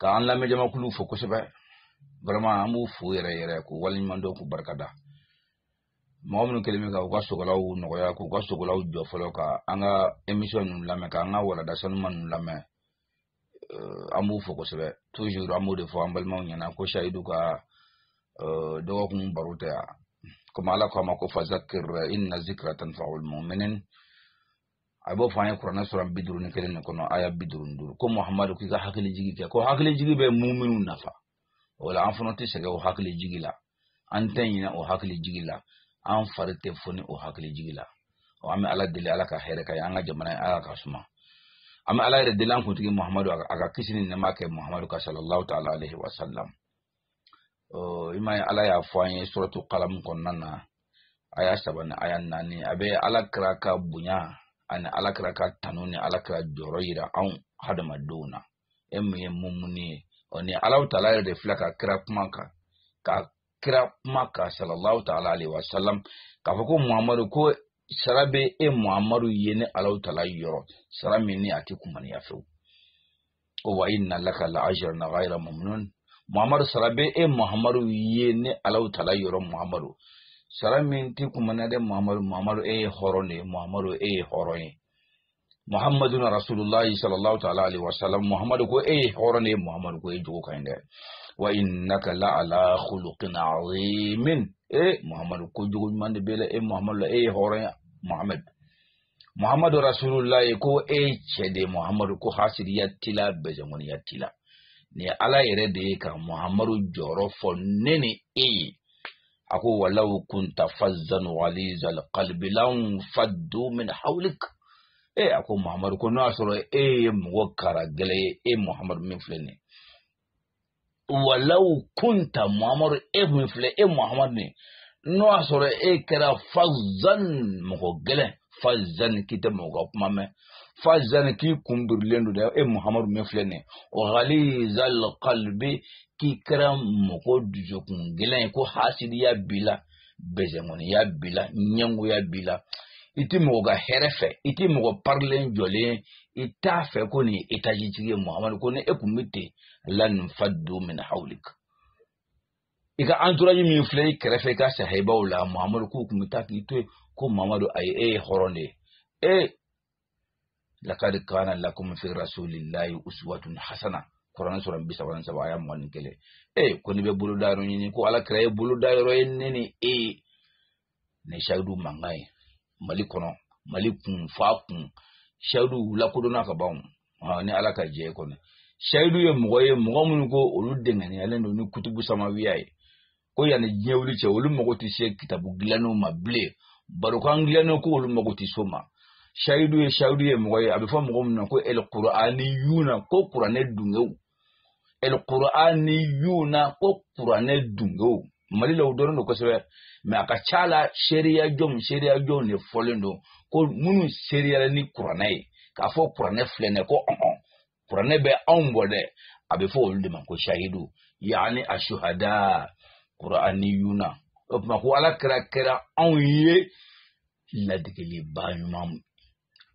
ka an lamɛn jamakulu fo kosɛbɛ vraiment an b'u fo yɛrɛ yɛrɛ k'u waleɲuman dɔn k'u barika da mɔgɔ minnu kɛlen bɛ ka u ka sogolaw nɔgɔya k'u ka sogolaw jɔ fɔlɔ ka an ka émission ninnu lamɛn ka an ka walada sanuma ninnu lamɛn euh, an b'u fo kosɛbɛ toujours an b'o de fɔ an balimaw ɲɛna ko sayidu ka euh, dɔgɔkun baro tɛ yan komi ala ko a ma ko fazakir inna zikra tanfaul muminin a b'o fɔ an ye kuranɛ sura bi duuru ni kelen de kɔnɔ aya bi duuru ni duuru ko muhamadu k'i ka hakili jigi kɛ ko hakili jigi bɛ muminw nafa o la an fana tɛ sɛgɛn o hakili jigi la an tɛ ɲinɛ o hakili jigi la an fari tɛ foni o hakili jigi la ɔ an bɛ ala deli ala ka hɛrɛ ka ye an ka jamana ye ala ka suma an bɛ ala yɛrɛ deli an kuntigi muhamadu a ka kisi ni nɛɛma kɛ muhamadu kan sallallahu taala alayhi wa sallam i ma ye ala y'a fɔ an ye suratu kalamu kɔnɔna na aya saba ni aya naani a bɛ ala kira ka bonya ani ala kira ka tanu ni ala kira jɔyɔrɔ yira anw hadamadenw na e min ye mumuni ye ɔ ni alahu taala yɛrɛ de filɛ ka kira kuma kan ka kira kuma kan sallallahu taala alayhi wa sallam k'a fɔ ko muhamadu ko sara bɛ e muhamadu ye ne alahu taala yɔrɔ sara min ni a tɛ kumaniya fewu ko wa inna laka la ajran ghayra mamnun muhammadu sara bɛ e muhammadu ye ne alahu taala yɔrɔ muhammadu sara min ti kumaniya dɛ muhammadu muhammadu e ye hɔrɔn de ye muhammadu e ye hɔrɔn ye muhammadu na rasulullahi sallallahu ta'ala alaihi wa sallam muhammadu ko e ye hɔrɔn de ye muhammadu ko e jogo ka ɲi dɛ wa innaka la ala khuluqin azimin e muhammadu ko jogo ɲuman de b'i la e muhammadu la e ye hɔrɔn ye muhammadu muhammadu rasulullah ko e cɛ de muhammadu ko hasidiya t'i la bezɛnkɔniya t'i la ni ala yɛrɛ de ye ka muhammadu jɔyɔrɔ fɔ ne ni e ye a ko walaw kunta fazzan galizal qalbilan faddu min hawlik e a ko muhammadu ko n'o y'a sɔrɔ e ye mɔgɔ karagɛlɛn ye e muhammadu min filɛ nin ye walaw kunta muhamadu e min filɛ e muhamadu nin n'o y'a sɔrɔ e kɛra fazan mɔgɔ gɛlɛn fazan k'i tɛ mɔgɔ ka kuma mɛn fazan k'i kun birilen don dɛ e muhamadu min filɛ nin ye galizal kalbi k'i kɛra mɔgɔ dusukun gɛlɛn ye ko hasidiya b'i la bezɛnkɔniya b'i la ɲɛngoya b'i la i ti mɔgɔ ka hɛrɛ fɛ i ti mɔgɔ parilen jɔlen i t'a fɛ ko nin ye etajitigi ye muhamadu ko ni e tun bɛ ten lan faddu min hawlik i ka entourage min filɛ i kɛrɛfɛ i ka sahibaw la mamadu k'u tun bɛ taa k'i to yen ko mamadu ayi e ye hɔrɔn de ye e lakad kana lakum fi rasulillahi uswatun hasana kuranɛ sura bi saba ni saba aya mugan ni kelen e ko n'i bɛ boloda yɔrɔ ɲini ko ala kira ye boloda yɔrɔ ye ne ni e ye ni sayidu mankan ye mali kɔnɔ mali kun f'a kun sayidu lakodɔnna ka ban ni ala ka jɛ kɔni sayidu ye mɔgɔ ye mɔgɔ minnu ko olu dɛngɛniyalen don ni kutubu samawiya ye ko yanni diɲɛ wuli cɛ olu mago tɛ se kitabu dilannenw ma bilen barokan dilannenw ko olu mago tɛ s'o ma sayidu ye sayidu ye mɔgɔ ye a bɛ fɔ mɔgɔ min na ko alqur'aniyuna ko kuranɛ dungew alqur'aniyuna ko qur'ane dungew mali la o dɔrɔn don kosɛbɛ mɛ a ka ca la seereya jɔnw seereya jɔnw de fɔlen don ko minnu seereyara ni kuranɛ ye k'a fɔ kuranɛ filɛ nin ye ko ɔn kuranɛ bɛ anw bɔ dɛ a bɛ fɔ olu de ma ko sahidu yaani asuhada kuraniyuna o tuma ko ala kira kɛra anw ye ladegelibaa ɲuman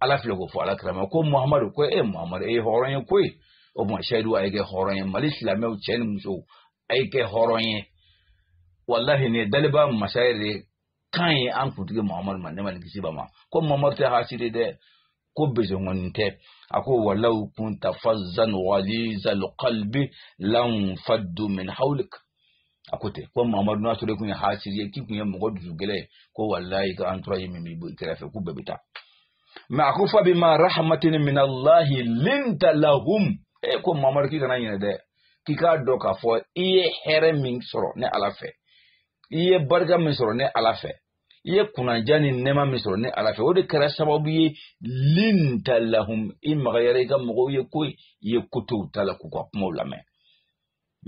ala filɛ k'o fɔ ala kira ma ko muhamadu ko e muhamadu e ye hɔrɔn ye koyi o tuma seyidu a ye kɛ hɔrɔn ye mali silamɛw cɛ ni musow a ye kɛ hɔrɔn ye walahi nin ye daliba masa yɛrɛ de kan ye an kuntigi muhamadu ma nɛɛma ni kisi b'a ma ko muhamadu tɛ hasidi dɛ ko bezongonin tɛ a ko walaw kunta fazzan ghalizal qalbi lanfaddu min hawlik a ko ten ko mamadu n'a sɔrɔ i kun ye hasiri ye k'i kun ye mɔgɔ dusu gɛlɛn ye ko walayi i ka entourage min b'i kɛrɛfɛ k'u bɛɛ bɛ taa mɛ a ko fabima rahmatin minallahi linta lahum e ko mamadu k'i kana ɲinɛ dɛ k'i k'a dɔn k'a fɔ i ye hɛrɛ min sɔrɔ ne ala fɛ i ye barika min sɔrɔ ne ala fɛ i ye kunnadiya ni nɛma min sɔrɔ ne ala fɛ o de kɛra sababu ye linta lahum i magayara i ka mɔgɔw ye koyi i ye koto u ta la k'u ka kumaw lamɛn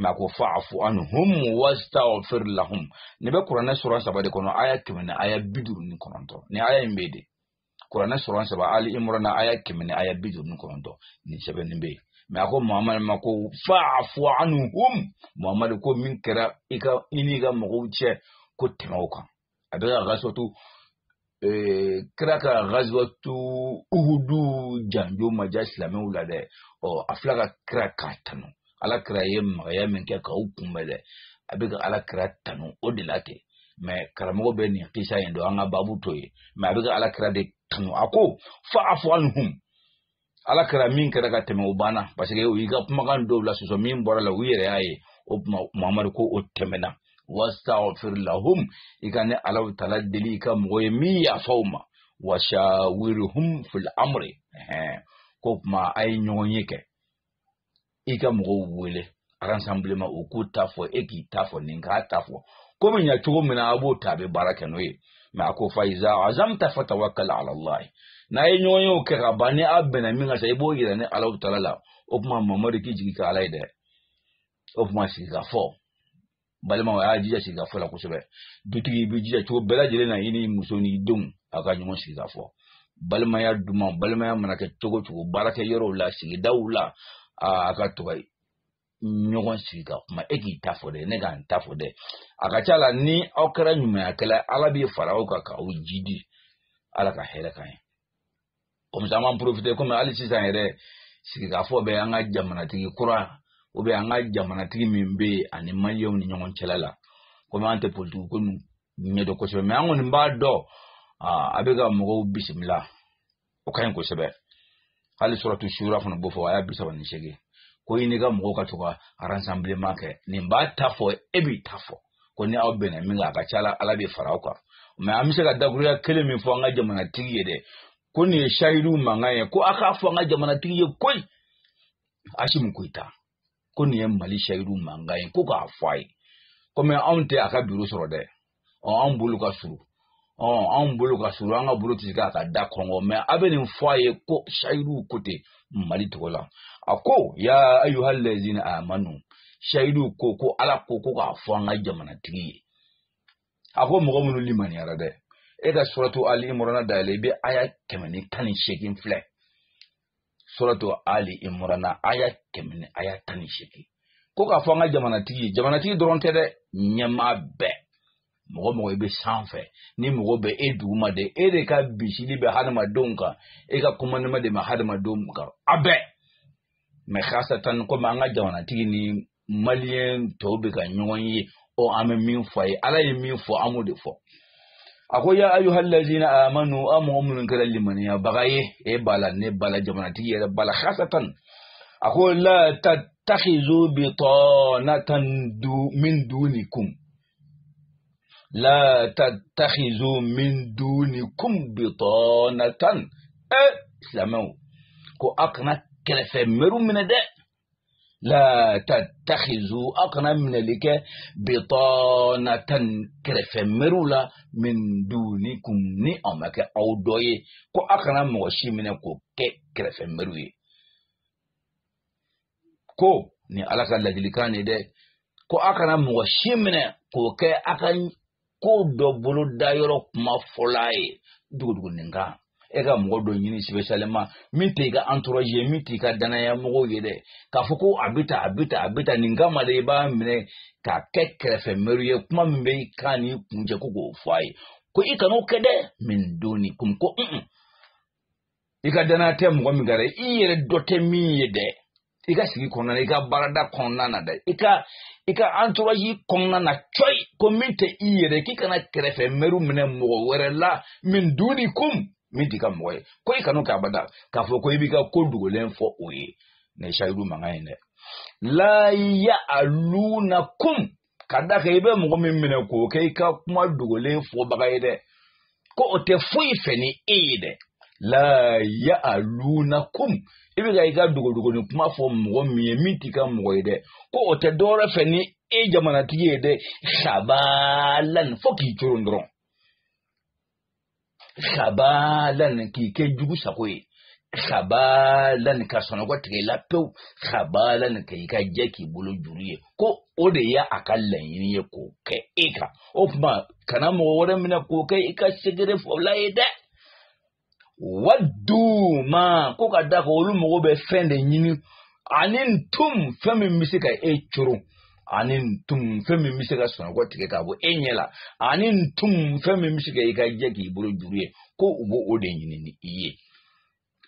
mɛ a ko fa'afu anhum wastaghfir lahum nin bɛ kuranɛ sura saba de kɔnɔ aya kɛmɛ ni aya bi duuru ni kɔnɔntɔn nin aya in bɛ de kuranɛ sura saba ali imurana aya kɛmɛ ni aya bi duuru ni kɔnɔntɔn nin sɛbɛnnen bɛ yen mɛ a ko muhamadu ma ko fa'afu anhum muhamadu ko min kɛra i i n'i ka mɔgɔw cɛ ko tɛmɛ o kan a bɛ ka gazwatu eh, kira ka gazwatu uhudu janjo ma diya silamɛw la dɛ ɔ a filɛ ka kira k'a tanu ala kira ye magaya min kɛ k'u kunbɛn dɛ a bɛ ka ala kira tanu o de la ten mɛ karamɔgɔ bɛ nin kisa in don an ka babu to yen mɛ a bɛ ka ala kira de tanu a ko fa'afu anhum ala kira min kɛra ka tɛmɛ o banna parce que u y'i ka kumakan dɔw la sɔsɔ min bɔra la u yɛrɛ y'a ye o tuma mamadu ko o tɛmɛna wastaghfir lahum i ka ne ala taala deli i ka mɔgɔw ye min yafa u ma washawiruhum fil amri k'o tuma a ye ɲɔgɔnye kɛ i ka mɔgɔw wele rassemblement u k'u ta fɔ e k'i ta fɔ nin k'a ta fɔ ko bɛ ɲa cogo min na a b'o ta a bɛ baara kɛ n'o ye mɛ a ko fa'iza azamta fatawakkal ala allah n'a ye ɲɔgɔnyew kɛ ka ban ni a bɛnna min kan sa i b'o yira ne ala taala la o tuma mamadu k'i jigi kɛ ala ye dɛ o tuma sigikafɔ balimaw a y'a jija sigikafɔ la kosɛbɛ dutigi i b'i jija cogo bɛɛ lajɛlen na i ni muso ni denw a ka ɲɔgɔn sigi ka fɔ balimaya duman balimaya mana kɛ cogo cogo baarakɛyɔrɔw la sigidaw la a ka to ka ɲɔgɔn sigi ka kuma e k'i ta fɔ dɛ ne ka n ta fɔ dɛ a ka ca la ni aw kɛra ɲumankɛla ala b'i fara aw kan k'aw jidi ala ka hɛrɛ k'an ye o muso an b'an porofite komi hali sisan yɛrɛ sigikafɔ bɛ an ka jamanatigi kura o bɛ an ka jamanatigi min bɛ yen ani maliyɛnw ni ɲɔgɔn cɛla la komi an tɛ politiki ko nin ɲɛdɔn kosɛbɛ mɛ an kɔni b'a dɔn a bɛ ka mɔgɔw bisimila o ka ɲi kosɛbɛ hali suratu sura fana b'o fɔ aya bi saba ni seegin ko i n'i ka mɔgɔw ka to ka arasanbileman kɛ nin b'a ta fɔ e b'i ta fɔ ko ni aw bɛnna min kan a ka ca la ala b'i fara aw kan mɛ an bɛ se ka dakuruya kelen min fɔ an ka jamanatigi ye dɛ ko nin ye sayidu mankan ye ko a k'a fɔ an ka jamanatigi ye koyi asimi koyita ko nin ye mali sayidu mankan ye ko k'a fɔ a ye komi anw tɛ a ka biro sɔrɔ dɛ ɔ anw bolo ka surun anw bolo ka surun an ka bolo tɛ se k'a ka da kɔnkɔn mɛ a bɛ nin fɔ a ye ko sayidu ko ten mali tɔgɔ la a ko ya ayuha lazina amanu sayidu ko ko ala ko ko k'a fɔ an ka jamanatigi ye a ko mɔgɔ minnu limaniyara dɛ e ka suratu ali imurana dayɛlɛ i bɛ aya kɛmɛ ni tan ni seegin filɛ suratu ali imurana aya kɛmɛ ni aya tan ni seegin ko k'a fɔ an ka jamanatigi ye jamanatigi dɔrɔn tɛ dɛ ɲɛmaa bɛɛ mɔgɔ mɔgɔ i bɛ sanfɛ ni mɔgɔ bɛ e duguma de e de ka bisili bɛ hadamadenw kan e ka komandema de bɛ hadamadenw kan a bɛɛ mɛ hasatan komi an ka jamanatigi ni maliyɛn tɔw bɛ ka ɲɔgɔn ye ɔ an bɛ min fɔ a ye ala ye min fɔ an b'o de fɔ a ko ya ayuha lazina amanu aw mɔgɔ minnu kɛra limaniyabaga ye e b'a la ne b'a la jamanatigi yɛrɛ b'a la hasatan a ko la tatakhizu bitɔnatan du min dunikum la tatakhizu min dunikum bitɔnatan ɛ silamɛw ko aw kana kɛrɛfɛ mɛriw minɛ dɛ la tatakhizu aw kana minɛli kɛ bitɔnatan kɛrɛfɛ mɛriw la min dunikum ni aw ma kɛ aw dɔ ye ko aw kana mɔgɔ si minɛ k'o kɛ kɛrɛfɛ mɛriw ye ko nin ala ka laadilikan de dɛ ko aw kana mɔgɔ si minɛ k'o kɛ aw ka ko dɔ bolodayɔrɔ kuma fɔla ye duguduguninkan e ka mɔgɔ dɔ ɲini sipesiyaleman min tɛ i ka anturazi ye min tɛ i ka dannaya mɔgɔw ye dɛ k'a fɔ ko a bɛ ta a bɛ ta a bɛ ta nin kama de i b'a minɛ k'a kɛ kɛrɛfɛ mɛri ye kuma min bɛ i kan ni kun cɛ ko k'o fɔ a ye ko i kan'o kɛ dɛ min dunikum ko un i ka danaya tɛ mɔgɔ min kan i yɛrɛ dɔ tɛ min ye dɛ i ka sigi kɔnɔna i ka baarada kɔnɔna na dɛ i ka i ka entourage kɔnɔna na cɔyi ko min tɛ i yɛrɛ k'i kana kɛrɛfɛ mɛriw minɛ mɔgɔ wɛrɛ la min dunikum min t'i ka mɔgɔ ye ko i kana kɛ abada k'a fɔ ko i b'i ka ko dogolen fɔ o ye nin ye sayidu mankan ye dɛ la ya'lunakum ka da kan i bɛ mɔgɔ min minɛ k'o kɛ i ka kuma dogolen fɔbaga ye dɛ ko o tɛ foyi fɛ ni e ye dɛ la ya'lunakum i bɛ ka i ka dogodogonin kuma fɔ mɔgɔ min ye min t'i ka mɔgɔ ye dɛ ko o tɛ dɔwɛrɛ fɛ ni e jamanatigi ye dɛ khabalan fo k'i coron dɔrɔn khabalan k'i kɛ jugu sago ye khabalan ka sunɔgɔ tigɛ i la pewu khabalan ka i ka jɛ k'i bolo juru ye ko o de ye a ka laɲini ye k'o kɛ e kan o tuma kana mɔgɔ wɛrɛ minɛ k'o kɛ i ka secret fɔla ye dɛ waddu ma ko ka da kan olu mɔgɔ bɛ fɛn de ɲini anittum fɛn min bɛ se ka e coron anittum fɛn min bɛ se ka sunɔgɔ tigɛ ka bɔ e ɲɛ la anittum fɛn min bɛ se ka i ka jɛ k'i bolo juru ye ko u b'o de ɲini ni i ye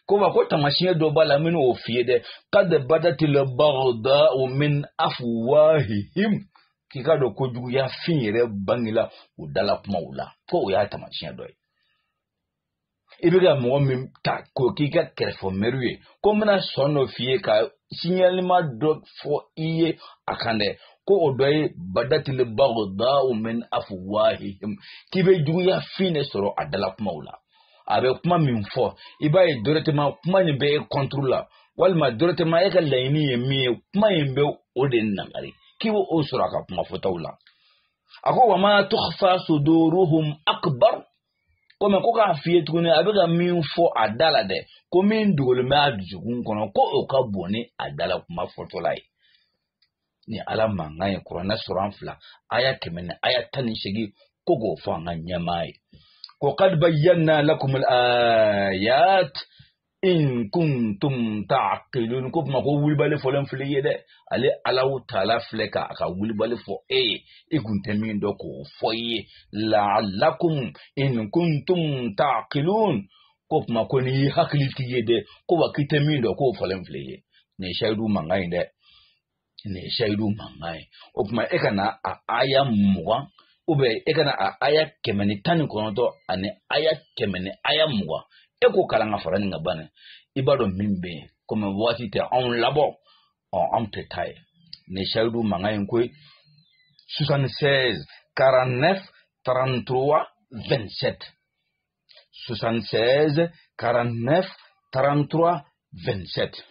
ko wa ko tamasiyɛn dɔ b'a la n bɛna o f'i ye dɛ qad badatil baghdau min afwahihim k'i ka dɔn ko juguya fin yɛrɛ bangela u dala kumaw la ko o y'a tamasiyɛn dɔ ye i bɛ ka mɔgɔ min ta k'o k'i ka kɛrɛfɛ mɛri ye ko n bɛna sɔn dɔ f'i ye ka signalement dɔ fɔ i ye a kan dɛ ko o dɔ ye badatil baghdau min afwahihim k'i bɛ juguya fin de sɔrɔ a dala kumaw la a bɛ kuma min fɔ i b'a ye directement kuma nin bɛ e contre la walima directement e ka laɲini ye min ye kuma in bɛ o de nagari k'i bɛ o sɔrɔ a ka kuma fɔtaw la a ko wa ma tukhfa suduruhum akbar ko mais ko k'a f'i ye tuguni a bɛ ka min fɔ a da la dɛ ko min dogolen bɛ a dusukun kɔnɔ ko o ka bon ni a da la kuma fɔtɔla ye nin ala mankan ye kuranɛ suran fila aya kɛmɛ ni aya tan ni seegin ko k'o fɔ an ka ɲɛmaa ye ko qad bayyanna lakumul ayat in kuntum ta'qilun ko kuma ko wulibali fɔlen filɛ i ye dɛ ale allahu ta'ala filɛ ka a ka wulibali fɔ e ye i kun tɛ min dɔn k'o fɔ i ye la'allakum in kuntum ta'qilun ko kuma ko n'i ye hakilitigi ye dɛ ko wa k'i tɛ min dɔn k'o fɔlen filɛ i ye nin ye sayidu mankan ye dɛ nin ye sayidu mankan ye o tuma e ka na a aya mugan e ka na a aya kɛmɛ ni tan ni kɔnɔntɔn ani aya kɛmɛ ni aya mugan e k'o kalan ka fara nin kan ban i b'a dɔn min bɛ yen komi waati tɛ anw labɔ ɔ anw tɛ taa yen nin ye sayidu mankan ye ko ye soixante seize quarante neuf trente trois vingt sept 76 49 33 27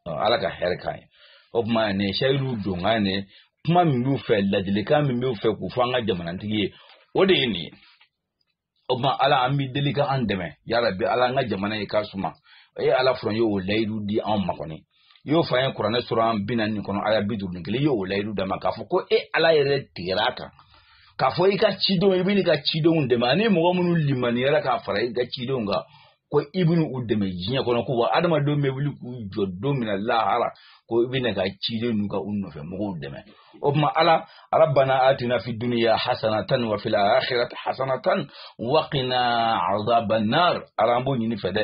ala ka hɛrɛ k'an ye o tuma nin ye seyidu donkan ne kuma min b'u fɛ ladilikan min b'u fɛ k'u fɔ an ka jamanatigi ye o de ye nin ye o tuma ala an b'i deli ka an dɛmɛ yarabi ala an ka jamana ye k'a suma e ala fɔlɔ ye o layidu di anw ma kɔni i y'o fɔ an ye kuranɛ sura bi naani kɔnɔ aya bi duuru ni kelen i y'o layidu d'an ma k'a fɔ ko e ala yɛrɛ tigɛra a kan k'a fɔ i ka cidenw i bɛ n'i ka cidenw dɛmɛ ani mɔgɔ minnu limaniyara k'a fara i ka cidenw kan ko i bɛ u dɛmɛ diɲɛ kɔnɔ ko wa adamadenw bɛ wuli k'u jɔ don min na lahara ko i bɛ n'i ka ciden n'u ka u nɔfɛ mɔgɔw dɛmɛ o tuma ala rabana atina fi duniya hasanatan wa fil akhirati hasanatan wa qina azaban nar ala an b'o ɲini i fɛ dɛ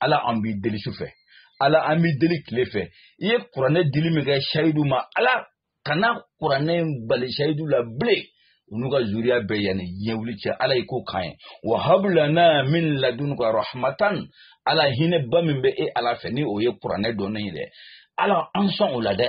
ala an b'i deli su fɛ ala an b'i deli tile fɛ i ye kuranɛ dili min kɛ sayidu ma ala kana kuranɛ in bali sayidu la bilen u n'u ka zuriya bɛɛ yanni diɲɛ wuli cɛ ala ye ko k'an ye wa hab lana min ladunka rahmatan ala hinɛba min bɛ e ala fɛ ni o ye kuranɛ dɔnni ye dɛ ala an sɔn o la dɛ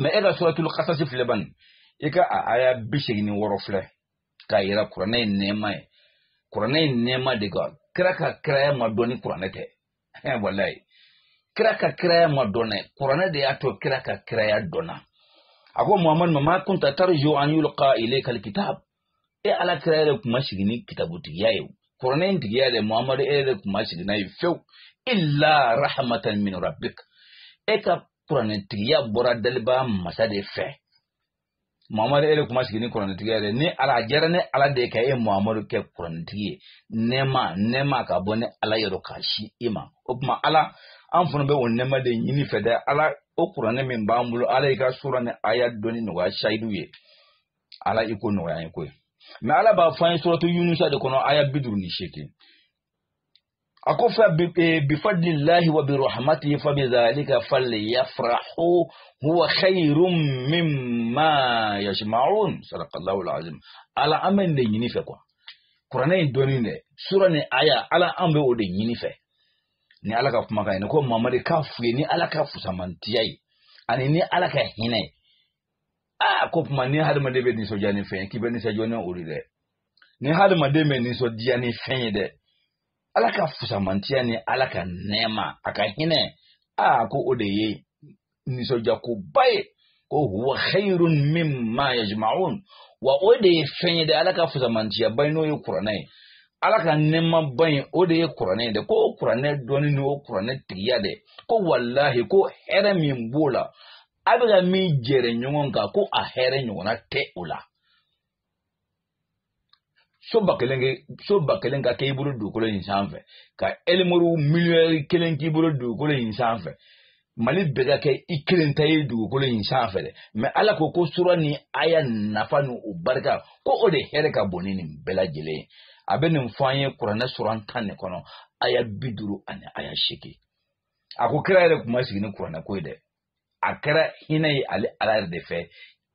mɛ e ka suratul kasasi filɛ bani i ka a aya bi seegin ni wɔɔrɔ filɛ k'a yira kuranɛ ye nɛɛma ye kuranɛ ye nɛɛma de kan kira ka kiraya ma dɔn ni kuranɛ tɛ walayi kira ka kiraya ma dɔn dɛ kuranɛ de y'a to kira ka kiraya dɔnna a ko muhamadu wa ma kunta tarju an yulqa ilayka alkitab e ala kira yɛrɛ tun ma sigi ni kitabutigiya ye kuranɛ in tigiya yɛrɛ muhamadu e yɛrɛ tun ma sigi n'a ye fewu illa rahmatan min rabbik e ka kuranɛ tigiya bɔra dalibaa masa de fɛ muhamadu e yɛrɛ tun ma sigi ni kuranɛ tigiya ye ne ala a diyara ne ala de ka e muhamadu kɛ kuranɛ tigi ye nɛɛma nɛɛma ka bɔ ne ala yɔrɔ k'a se i ma o tuma ala an fana bɛ o nɛɛma de ɲini i fɛ dɛ ala o kuranɛ min b'an bolo ala y'i ka sura ni aya dɔnni nɔgɔya sayidu ye ala i ko nɔgɔya ye ko ye mɛ ala b'a fɔ an ye suratu yunusa de kɔnɔ aya bi duuru ni seegin a ko f'u ye bifadlillahi wa birahmatihi fa bidhalika falyafrahu huwa khairum mimma yajmaun sadakallahu alazim ala an bɛ nin de ɲini i fɛ ko wa kuranɛ in dɔnni dɛ sura ni aya ala an bɛ o de ɲini i fɛ ni ala ka kumakan ye ni ko mamadi k'a f'u ye ni ala ka fusamantiya ye ani ni ala ka hinɛ ye aa ko o tuma ni hadamaden bɛ nisɔndiya ni fɛn ye k'i bɛ nisɔndiya ni o de dɛ ni hadamaden bɛ nisɔndiya ni fɛn ye dɛ ala ka fusamantiya ni ala ka nɛɛma a ka hinɛ aa ko o de ye nisɔndiyakoba ye ko huwa khayrun mimma yajma'un wa o de ye fɛn ye dɛ ala ka fusamantiyaba ye n'o ye kuranɛ ye ala ka nɛɛmaba in o de ye kuranɛ ye dɛ ko kuranɛ dɔnni ni o kuranɛ tigiya dɛ ko walahi ko hɛrɛ min b'o la a bɛ ka min jɛrɛ ɲɔgɔn kan ko a hɛrɛ ɲɔgɔnna tɛ o la so ba kelen ke so ba kelen ka kɛ i bolo dugukolo in sanfɛ ka elimuru miliyɔn kelen k'i bolo dugukolo in sanfɛ mali bɛɛ ka kɛ i kelen ta ye dugukolo in sanfɛ dɛ mɛ ala ko ko sura ni aya nafa ni o barika ko o de hɛrɛ ka bon ni nin bɛɛ lajɛlen ye a bɛ nin fɔ an ye kuranɛ suran tan de kɔnɔ aya bi duuru ani aya seegin a ko kira yɛrɛ tun ma sigi ni kuranɛ ko ye dɛ a kɛra hinɛ ye ale ala yɛrɛ de fɛ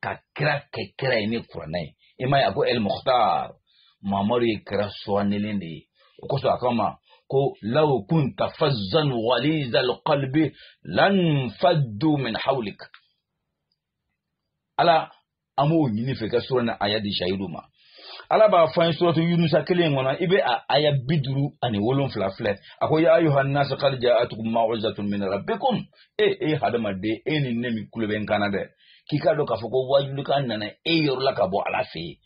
ka kira kɛ kira ye ni kuranɛ ye i m'a ye a ko el muhtar mamadu ye kira suwanilen de ye o kosɔn a kama ko law kunta fazzan waliza alqalbi lan faddu min hawlik ala an b'o ɲini i fɛ ka sura ni aya di sayidu ma ala b'a fɔ an ye suratu yunusa kelen kɔnɔ i bɛ a aya bi duuru ani wolonfila filɛ a ko ya ayuha nasu kad jaatukum mawizatun min rabbikum e e hadamaden e nin e min kulo bɛ n kan na dɛ k'i k'a dɔn k'a fɔ ko wajulikan nana e yɔrɔ la ka bɔ ala fɛ yen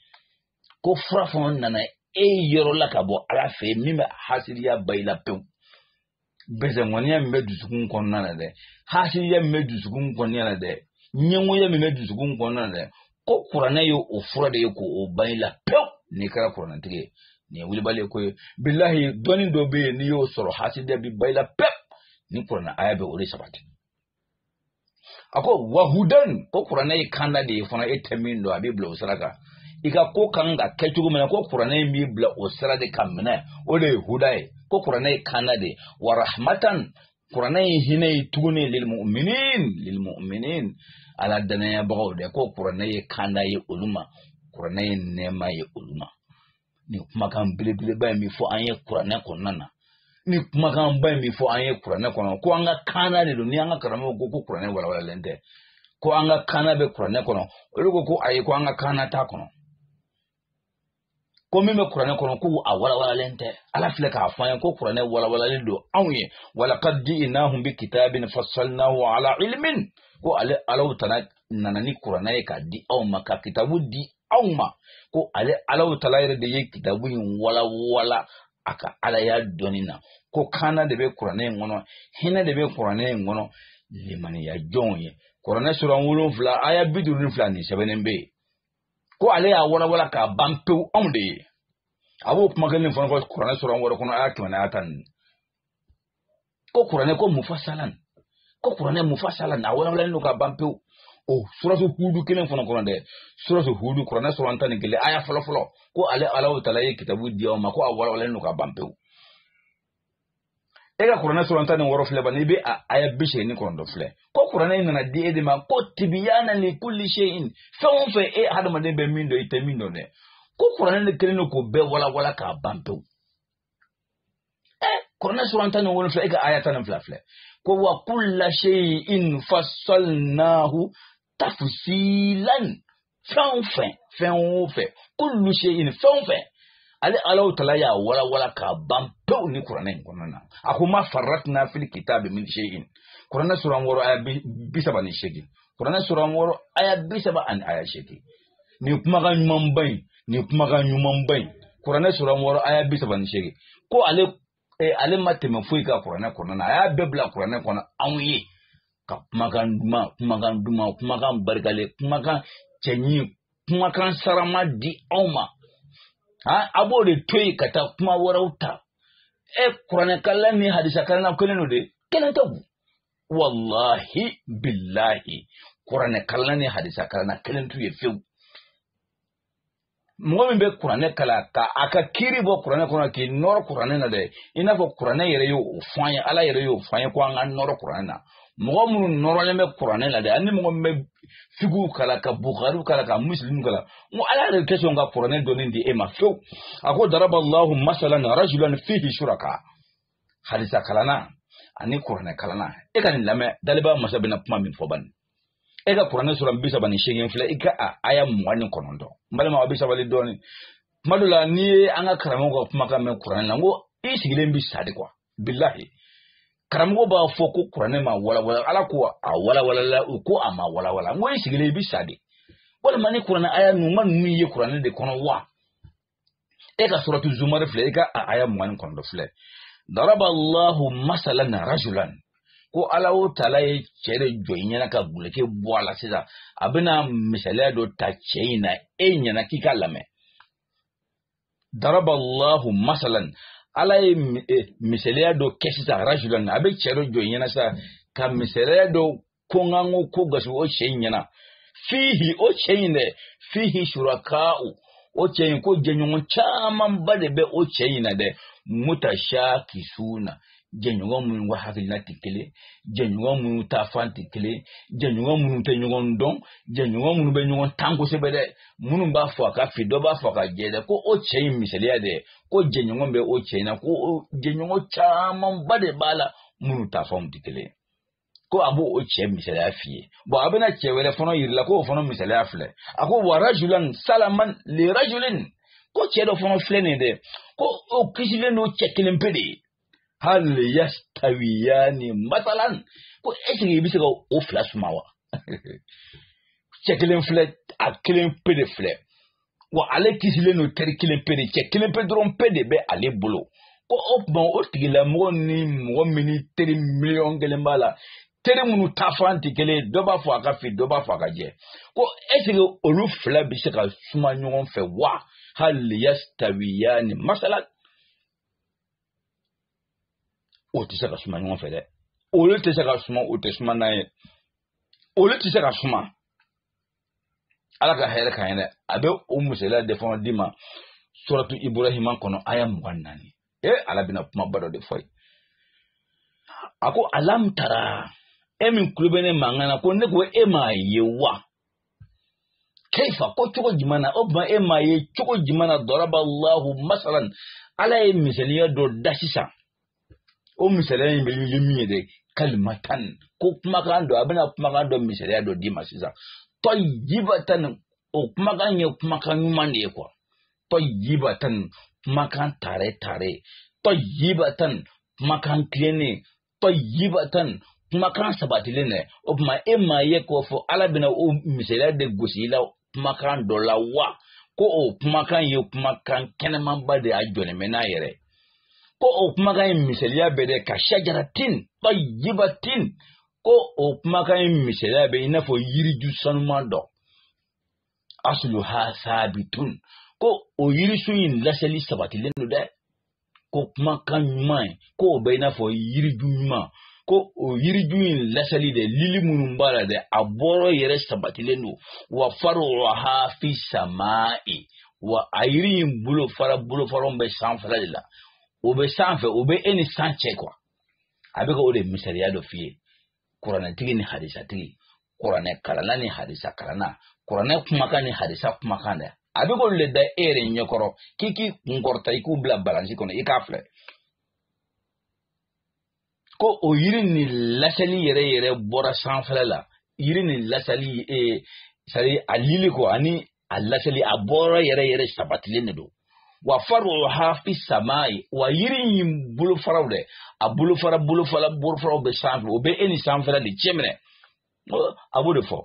ko fura fana nana e yɔrɔ la ka bɔ ala fɛ yen min bɛ hasiriya ban i la pewu bɛsɛnkɔniya min bɛ dusukun kɔnɔna na dɛ hasiriya min bɛ dusukun kɔnɔna na dɛ ɲɛngoya min bɛ dusukun kɔnɔna na dɛ ko kuranɛ ye o fura de ye k'o ban i la pewu n'i kɛra kuranɛtigi ye nin ye wulibali ko ye bilahi dɔnni dɔ bɛ yen n'i y'o sɔrɔ hasiriya bi ban i la pewu nin kuranɛ aya bɛ o de sabati a ko wahudan ko kuranɛ ye kanda de ye fana e tɛ min dɔn a b'i bila o sira kan i ka ko kan ka kɛ cogo min na ko kuranɛ in b'i bila o sira de ka minɛ o de ye huda ye ko kuranɛ ye kanda de ye wa rahmatan kuranɛ ye hinɛ ye tuguni lilmu'minin lilmu'minin ala danayabagaw dɛ ko kuranɛ ye kanda ye olu ma kuranɛ ye nɛɛma ye olu ma nin kumakan belebeleba in bɛ fɔ an ye kuranɛ kɔnɔna na nin kumakanba in bɛ fɔ an ye kuranɛ kɔnɔ ko an ka kana de don ni an ka karamɔgɔw ko ko kuranɛ walawalalen tɛ ko an ka kana bɛ kuranɛ kɔnɔ olu ko ko ayi ko an ka kana t'a kɔnɔ ko min bɛ kuranɛ kɔnɔ ko a walawalalen tɛ ala filɛ k'a fɔ an ye ko kuranɛ walawalalen don anw ye walakad jiinahum bi kitabin fasalnahu ala ilmin ko ale ala taala nana ni kuranɛ ye k'a di aw ma ka kitabu di aw ma ko ale ala taala yɛrɛ de ye kitabu in walawala a ka alaya dɔnni na ko kana de bɛ kuranɛ in kɔnɔ hinɛ de bɛ kuranɛ in kɔnɔ limaniya jɔnw ye kuranɛ sura wolonfila aya bi duuru ni fila nin sɛbɛnnen bɛ yen ko ale y'a walawala k'a ban pewu aw de ye a b'o kuma kelen fana fɔ kuranɛ sura wɔɔrɔ kɔnɔ aya kɛmɛ n'aya tan ni ko kuranɛ ko mufasalan ko kuranɛ mufasalan a walawalalen don ka ban pewu o suratu hudu kelen fana kɔnɔ dɛ suratu hudu kuranɛ suran tan ni kelen aya fɔlɔ fɔlɔ ko ale alahu taala ye kitabu di aw ma ko a walawalalen don ka ban pewu e ka kuranɛ suran tan ni wɔɔrɔ filɛ bani i bɛ a aya bi seegin kɔnɔntɔn filɛ ko kuranɛ in nana di e de ma ko tibyanan li kulli shay'in fɛn o fɛn e hadamaden bɛ min dɔn i tɛ min dɔn dɛ ko kuranɛ de kelen don k'o bɛɛ walawala k'a ban pewu kuranɛ suran tan ni wolonfila e ka aya tan ni fila filɛ ko wa kulla shay'in fassalnahu tafsilan fɛn o fɛn fɛn o fɛn kullu shay'in fɛn o fɛn ale alahu taala y'a walawala k'a ban pewu nin kuranɛ in kɔnɔna na a ko ma farratna fil kitabi min shay'in kuranɛ suran wɔɔrɔ aya bi saba ni seegin kuranɛ suran wɔɔrɔ aya bi saba ani aya seegin nin kumakan ɲumanba in nin kumakan ɲumanba in kuranɛ suran wɔɔrɔ aya bi saba ni seegin ko ale eh, ale ma tɛmɛ foyi kan kuranɛ kɔnɔna na a y'a bɛɛ bila kuranɛ kɔnɔ a y'a ka kumakan duman kumakan duman kumakan barikalen kumakan cɛɲi kumakan sarama di anw ma a b'o de to yen ka taa kuma wɛrɛw ta e kuranɛkalanna ni hadisakalanna kelen don de kelen tɛ wallahi billahi kuranɛ kalan ni hadisa kalan kelen t'u ye fiyewu mɔgɔ min bɛ kuranɛ kalan ka a ka kiiri bɔ kuranɛ kɔnɔ k'i nɔrɔ kuranɛ na dɛ i n'a fɔ kuranɛ yɛrɛ y'o fɔ an ye ala yɛrɛ y'o fɔ an ye ko an ka nɔrɔ kuranɛ na mɔgɔ minnu nɔrɔlen bɛ kuranɛ la dɛ ani mɔgɔ min bɛ figihu kalan ka bukari kalan ka musilimu kalan n ko ala yɛrɛ tɛ sɔn ka kuranɛ dɔnni di e ma fewu a ko daraba allahu masalan rajulan fihi shuraka hadisa kalanna ani kuranɛ kalanna e ka nin lamɛn dalibaa masa bɛna kuma min fɔ bani e ka kuranɛ suran bi saba ni seegin filɛ i ka a aya mugan ni kɔnɔntɔn n balima aw bɛ sabali dɔɔnin tuma dɔ la n'i ye an ka karamɔgɔ ka kumakan mɛn kuranɛ la n ko i sigilen bɛ sa de kuwa bilahi karamɔgɔ b'a fɔ ko kuranɛ ma walawala ala ko a walawalala u ko a ma walawala n ko i sigilen i bɛ sa de walima ni kuranɛ aya ninnu ma ninnu ye kuranɛ de kɔnɔ wa e ka suratu zumar filɛ e ka a aya mugan ni kɔnɔntɔn filɛ daraba allahu masalan rajulan ko alahu taala ye cɛ dɔ jɔ i ɲɛna ka guleke bɔ a la sisan a bɛna misaliya dɔ ta cɛ in na e ɲɛna k'i k'a lamɛn daraba allahu masalan ala ye e, misaliya dɔ kɛ sisan rajulan a bɛ cɛ dɔ jɔ i ɲɛna sisan ka misaliya dɔ ko n ka n ko ko gasi o cɛ in ɲɛna fihi o cɛ in dɛ fihi shuraka'u o cɛ in ko jɛɲɔgɔn camanba de bɛ o cɛ in na dɛ mutashakisuna jɛɲɔgɔn minnu ka hakilina tɛ kelen jɛɲɔgɔn minnu taafan tɛ kelen jɛɲɔgɔn minnu tɛ ɲɔgɔn dɔn jɛɲɔgɔn minnu bɛ ɲɔgɔn tan kosɛbɛ dɛ minnu b'a fɔ a ka fin dɔ b'a fɔ a ka jɛ dɛ ko o cɛ in misaliya dɛ ko jɛɲɔgɔn bɛ o cɛ in na ko jɛɲɔgɔn camanba de b'a la minnu taafanw tɛ kelen ko a b'o o cɛ misaliya f'i ye bɔn a bɛna cɛ wɛrɛ fana yir'i la k'o fana misaliya filɛ a ko wa rajulan salaman li rajulin ko cɛ dɔ fana filɛ nin dɛ ko o kisilen don cɛ kelen pe de ye hali yastawiyani masalan ko ɛsike i bɛ se ka o fila suma wa cɛ kelen filɛ a kelen pe de filɛ wa ale kisilen don teri kelen pe de cɛ kelen pe dɔrɔn pe de bɛ ale bolo ko o tuma o tigilamɔgɔ ni mɔgɔ min ni teri miliyɔn kelen b'a la teri minnu taafan tɛ kelen ye dɔ b'a fɔ a ka fin dɔ b'a fɔ a ka jɛ ko ɛseke olu fila bɛ se ka suma ɲɔgɔn fɛ wa hali yastawiyani masalan k'o tɛ se ka suma ɲɔgɔn fɛ dɛ olu tɛ se ka suma o tɛ suma n'a ye olu tɛ se ka suma. ala ka hɛrɛ kan yɛrɛ a bɛ o misaliya de fana d'i ma suratu ibrahima kɔnɔ aya mugan naani e ala bɛna kumaba dɔ de fɔ ye a ko alam tara e min kulo bɛ ne mankan na ko ne ko e m'a ye wa kaifa ko cogo jumɛn na o tuma e m'a ye cogo jumɛn na daraba allahu masalan ala ye misaliya dɔ da sisan o misaliya in ye min ye dɛ kalimatan ko kumakan dɔ a bɛna kumakan dɔ misaliya dɔ d'i ma sisan tayibatan o kumakan ye kumakan ɲuman de ye kuwa tayibatan kumakan tare tare tayibatan kumakan tilennen tayibatan kumakan sabatilen dɛ o tuma e m'a ye k'o fɔ ala bɛna o misaliya de gosi i la kumakan dɔ la wa ko o kumakan ye kumakan kɛnɛmanba de y'a jɔlen bɛ n'a yɛrɛ ko o kumakan in misaliya bɛ dɛ ka shajaratin tayibatin ko o kumakan in misaliya bɛ i n'a fɔ yiriju sanuman dɔ asuluha saabitun ko o yirisun in laseli sabatilen don dɛ ko kumakan ɲuman in ko o bɛ i n'a fɔ yiriju ɲuman ko o yiriju in lasali dɛ lili minnu b'a la dɛ a bɔrɔ yɛrɛ sabatilen don wa faruuha fi sama e wa a yiri in bolofara bolofaraw bɛ sanfɛla de la o bɛ sanfɛ o bɛ e ni san cɛ kuwa a bɛ ka o de misaliya dɔ f'i ye kuranɛtigi ni hadisatigi kuranɛ kalanna ni hadisa kalanna kuranɛ kumakan ni hadisa kumakan dɛ a bɛ k'olu le da e yɛrɛ ɲɛkɔrɔ k'i k'i kunkɔrɔta i k'u bila balansi kɔnɔ i k'a filɛ ko o yiri nin lasili yɛrɛ yɛrɛ bɔra sanfɛla la yiri nin lasili ee sari a lili ko ani a lasili a bɔra yɛrɛ yɛrɛ sabatilen de don wa faruha fi samai wa yiri in bolofaraw dɛ a bolofara bolofara bolofaraw bɛ sanfɛ o bɛ e ni sanfɛla de cɛ minɛ a b'o de fɔ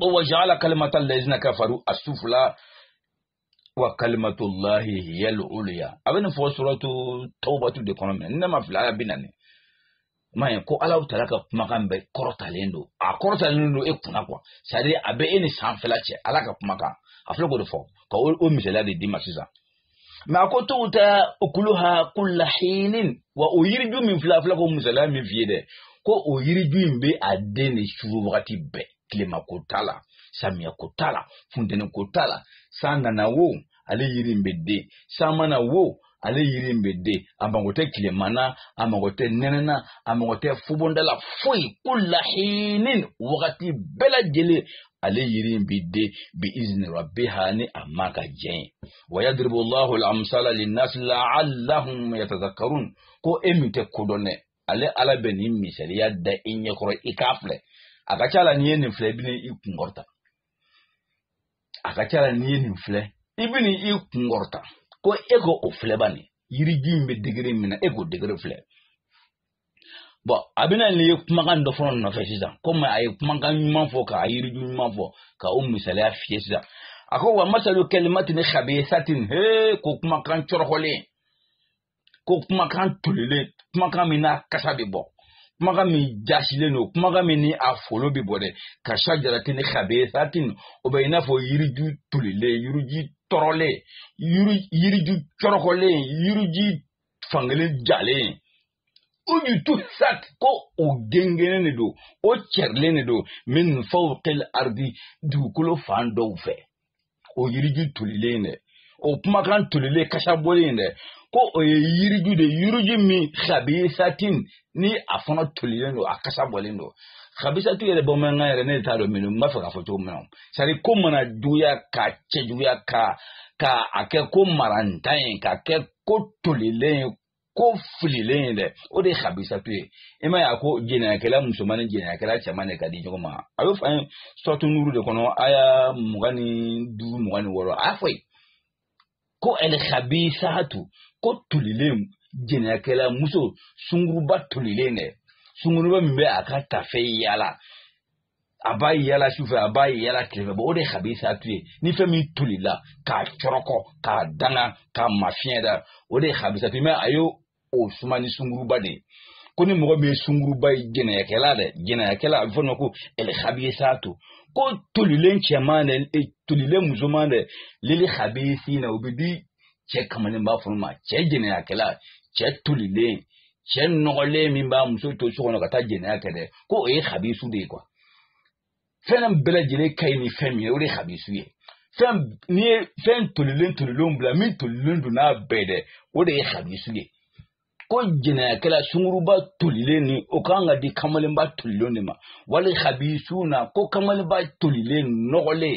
ko wa jaala kalimata lazina kafaru asufula wa kalimatullahi hiya al-ulya a bɛ nin fɔ suratu tawbatu de kɔnɔ minɛ ni ne ma fili aya bi naani ma ye ko ala taala ka kumakan bɛɛ kɔrɔtalen don a kɔrɔtalen don e kunna kuwa sari a bɛ e ni sanfɛla cɛ ala ka kumakan a filɛ k'o de fɔ ka o misaliya de d'i ma sisan mɛ a ko tuuti ukulaha kulla hinin wa o yiriju min filɛ a filɛ ko misaliya min f'i ye dɛ ko o yiriju in bɛ a den de suru wagati bɛɛ tilema ko t'a la samiya ko t'a la funteni ko t'a la san nana wo ale yiri in bɛ den san ma na wo ale yiri in bɛ den a mago tɛ tilema na a mago tɛ nɛnɛ na a mago tɛ fubonda la foyi kulla hinin wagati bɛɛ lajɛlen ale yiri in bɛ den bi izni rabbiha ni a ma ka jɛn ye wa yadribu llahu lamsala linnasi laallahum yatazakkarun ko e min tɛ ko dɔn dɛ ale ala bɛ nin misaliya da i ɲɛkɔrɔ i k'a filɛ a ka ca la n'i ye nin filɛ i bɛna i kunkɔrɔta a ka ca la n'i ye nin filɛ i bɛna i kun kɔrɔta ko e k'o filɛ ba nin yiriju in bɛ degere min na e k'o degere filɛ bɔn a bɛna nin ye kumakan dɔ fɔ o nɔfɛ sisan komi a ye kumakan ɲuman fɔ k'a yiriju ɲuman fɔ ka o misaliya f'i ye sisan a ko wa masalu kalimatin xabisatin he ko kumakan cɔrɔkɔlen ko kumakan tolilen kumakan min n'a kasa bɛ bɔ kumakan min jasilen don kumakan min ni a folo bɛ bɔ dɛ kasajaratin xabisatin o bɛ i n'a fɔ yiriju tolilen yiriju tɔrɔlen yiri yiriju cɔrɔkɔlen yiriju fankelen jalen ujutusat ko o gengenen de don o cɛrilen de don min fawqil ardi dugukolo fan dɔw fɛ o yiriju tolilen in dɛ o kumakan tolilen kasa bɔlen in dɛ ko o ye yiriju de yiriju min xabisatin ni a fana tolilen don a kasa bɔlen don xabisatu yɛrɛ bamanankan yɛrɛ ne t'a dɔn minnu n b'a fɛ k'a fɔ cogo min na sari ko mana juguya ka cɛjuguya ka ka a kɛ ko marantan ye ka kɛ ko tolilen ye ko fililen ye dɛ o de ye habisatu ye i m'a ye a ko jɛnɛyakɛla musoman ni jɛnɛyakɛla cɛman de ka di ɲɔgɔn ma a b'o fɔ an ye suratu nuru de kɔnɔ aya mugan ni duuru mugan ni wɔɔrɔ a y'a fɔ yen ko elhabisatu ko tolilen jɛnɛyakɛla muso sunguruba tolilen dɛ sunguruba min bɛ a ka tafe yaala a b'a yaala su fɛ a b'a yaala tile fɛ bɔn o de ye habisatu ye ni fɛn min tolila k'a cɔrɔkɔ k'a danga k'a mafiɲɛya o de ye habisatu ye mɛ a y'o suma ni sunguruba de ye ko ni mɔgɔ min ye sunguruba ye jɛnɛyakɛla dɛ jɛnɛyakɛla a bɛ fɔ nɔ ko elhabisatu ko tolilen cɛman dɛ e, tolilen musoman dɛ lil habisina o bɛ di cɛ kamalenba fana ma cɛ jɛnɛyakɛla cɛ tolilen cɛ nɔgɔlen min b'a muso to so kɔnɔ ka taa jɛnɛya kɛ dɛ ko o ye habisu de ye kuwa fɛn bɛɛ lajɛlen ka ɲi ni fɛn min ye o de ye habisu ye fɛn n'i ye fɛn tolilen tolilenw bila min tolilen don n'a bɛɛ dɛ o de ye habisu ye ko jɛnɛyakɛla sunguruba tolilen ni o kan ka di kamalenba tolilen de ma wal habisuna ko kamalenba tolilen nɔgɔlen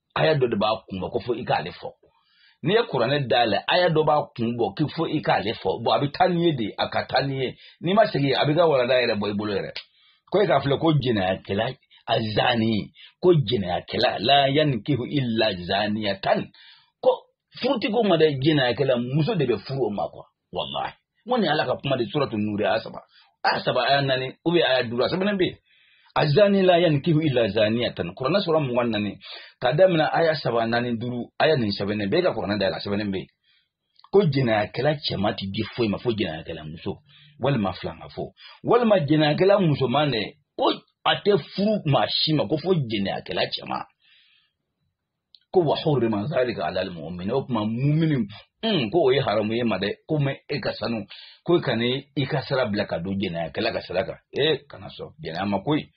aya dɔ de b'a kun bɔ ko fo i k'ale fɔ n'i ye kuranɛ dayɛlɛ aya dɔ b'a kun bɔ k'i fo i k'ale fɔ bɔn a bɛ taa n'i ye de a ka taa n'i ye n'i ma segin a b'i ka walanda yɛrɛ bɔ i bolo yɛrɛ ko e k'a filɛ ko jɛnɛyakɛla azani ko jɛnɛyakɛla la yankihu illa zaniya tan ko furu ti k'o ma dɛ jɛnɛyakɛla muso de bɛ furu o ma kuwa wallahi mun ne ala ka kuma de suratu nuri aya saba aya saba aya naani u bɛ aya duuru a sɛbɛnnen bɛ yen azani la yankihu illa zaniyatan kurana sura mugan ni naani ka daminɛ aya saba naani duuru aya nin sɛbɛnnen bɛ e ka kurana dayɛlɛ sɛbɛnnen bɛ yen ko jɛnɛyakɛla cɛman ti di foyi ma fo jɛnɛyakɛla muso walima filankafo walima jɛnɛyakɛla musoman de ko a tɛ furu maa si ma ko fo jɛnɛyakɛla cɛman ko wa hurrima zalika ala almu'min ko maa mu'minin mm ko o ye haramu ye i ma dɛ ko mɛ e ka sanu ko e kana i ka sira bila ka don jɛnɛya kɛla ka sira kan e kana sɔn jɛnɛya ma koyi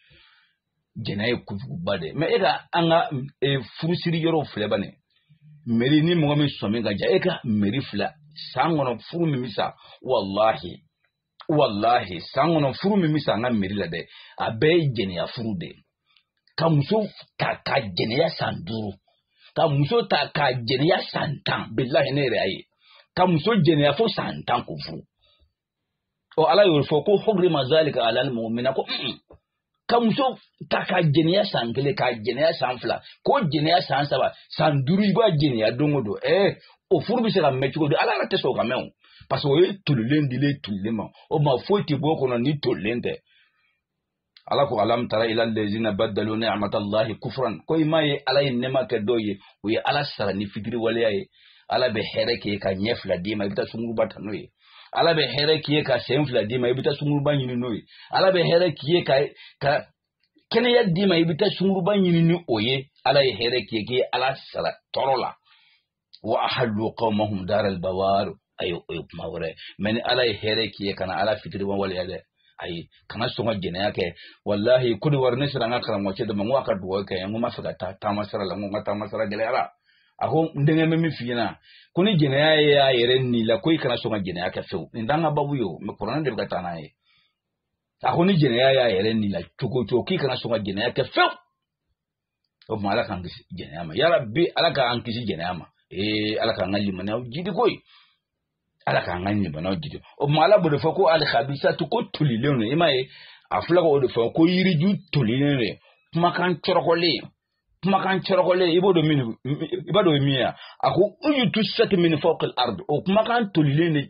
jɛnɛya ye kojuguba de mɛ e ka an ka e, furusiri yɔrɔw filɛ bani meri ni mɔgɔ min sɔmi ka ja e ka meri filɛ san kɔnɔ furu min bɛ sa walahi walahi san kɔnɔ furu min bɛ sa an ka meri la dɛ a bɛɛ ye jɛnɛya furu de ye ka muso ta ka jɛnɛya san duuru ka muso ta ka jɛnɛya san tan bilahi ne yɛrɛ y'a ye ka muso jɛnɛya fo san tan k'o furu ɔ ala y'o fɔ ko hurrima zalika alal mu'minina ko ka muso ta ka jɛnɛya san kelen ka jɛnɛya san fila k'o jɛnɛya san saba san duuru i b'a jɛnɛya don o don ɛɛ o furu bɛ se ka mɛn cogo di ala yɛrɛ tɛ sɔn o ka mɛn o parce que o ye tolilen dilen tolilen ma o ma foyi tɛ bɔ o kɔnɔ ni tolilen tɛ ala ko alam tara ila lezina badalu ni'matallahi kufran ko i m'a ye ala ye nɛɛma kɛ dɔw ye u ye ala sara ni fitiriwaleya ye ala bɛ hɛrɛ kɛ ka ɲɛ fila d'i ma i bɛ taa sunguruba ta n'o ye ala bɛ hɛrɛ k'i ye ka sen fila d'i ma i bɛ taa sunguruba ɲini n'o ye ala bɛ hɛrɛ k'i ye ka ka kɛnɛya d'i ma i bɛ taa sunguruba ɲini ni o ye ala ye hɛrɛ k'i ye k'i ye ala sara tɔɔrɔ la wa ahallu qawmahum daral bawar ayo o ye kuma wɛrɛ mais ni ala ye hɛrɛ k'i ye kana ala fitiriwaleya dɛ ayi kana sɔn ka jɛnɛya kɛ walahi kodiwari ne sera an ka karamɔgɔcɛ dɔ ma n ko a ka dugawu kɛ n ko n b'a fɛ ka taa taama sira la n ko n ka taama sira gɛlɛyara a ko n denkɛ bɛ min f'i ɲɛna ko ni jɛnɛya y'a yɛrɛ n'i la ko i kana sɔn ka jɛnɛya kɛ fewu nin t'an ka babu ye o mais kuranɛ de bɛ ka taa n'an ye a ko ni jɛnɛya y'a yɛrɛ n'i la cogo o cogo k'i kana sɔn ka jɛnɛya kɛ fewu o tuma ala k'an kisi jɛnɛya ma ya rabi ala k'an kisi jɛnɛya ma ee ala k'an ka limaniyaw jidi ko ye ala k'an ka limaniyaw jidi o tuma ala b'o de fɔ ko alikabisatu ko tolilen don i m'a ye a filɛ k'o de fɔ ko yiriju tolilen don kumakan cɔrɔkɔlen kumakan cɔrɔkɔlen i b'o dɔn min i b'a dɔn min ye a ko ujtusat min fawqil ard o kumakan tolilen de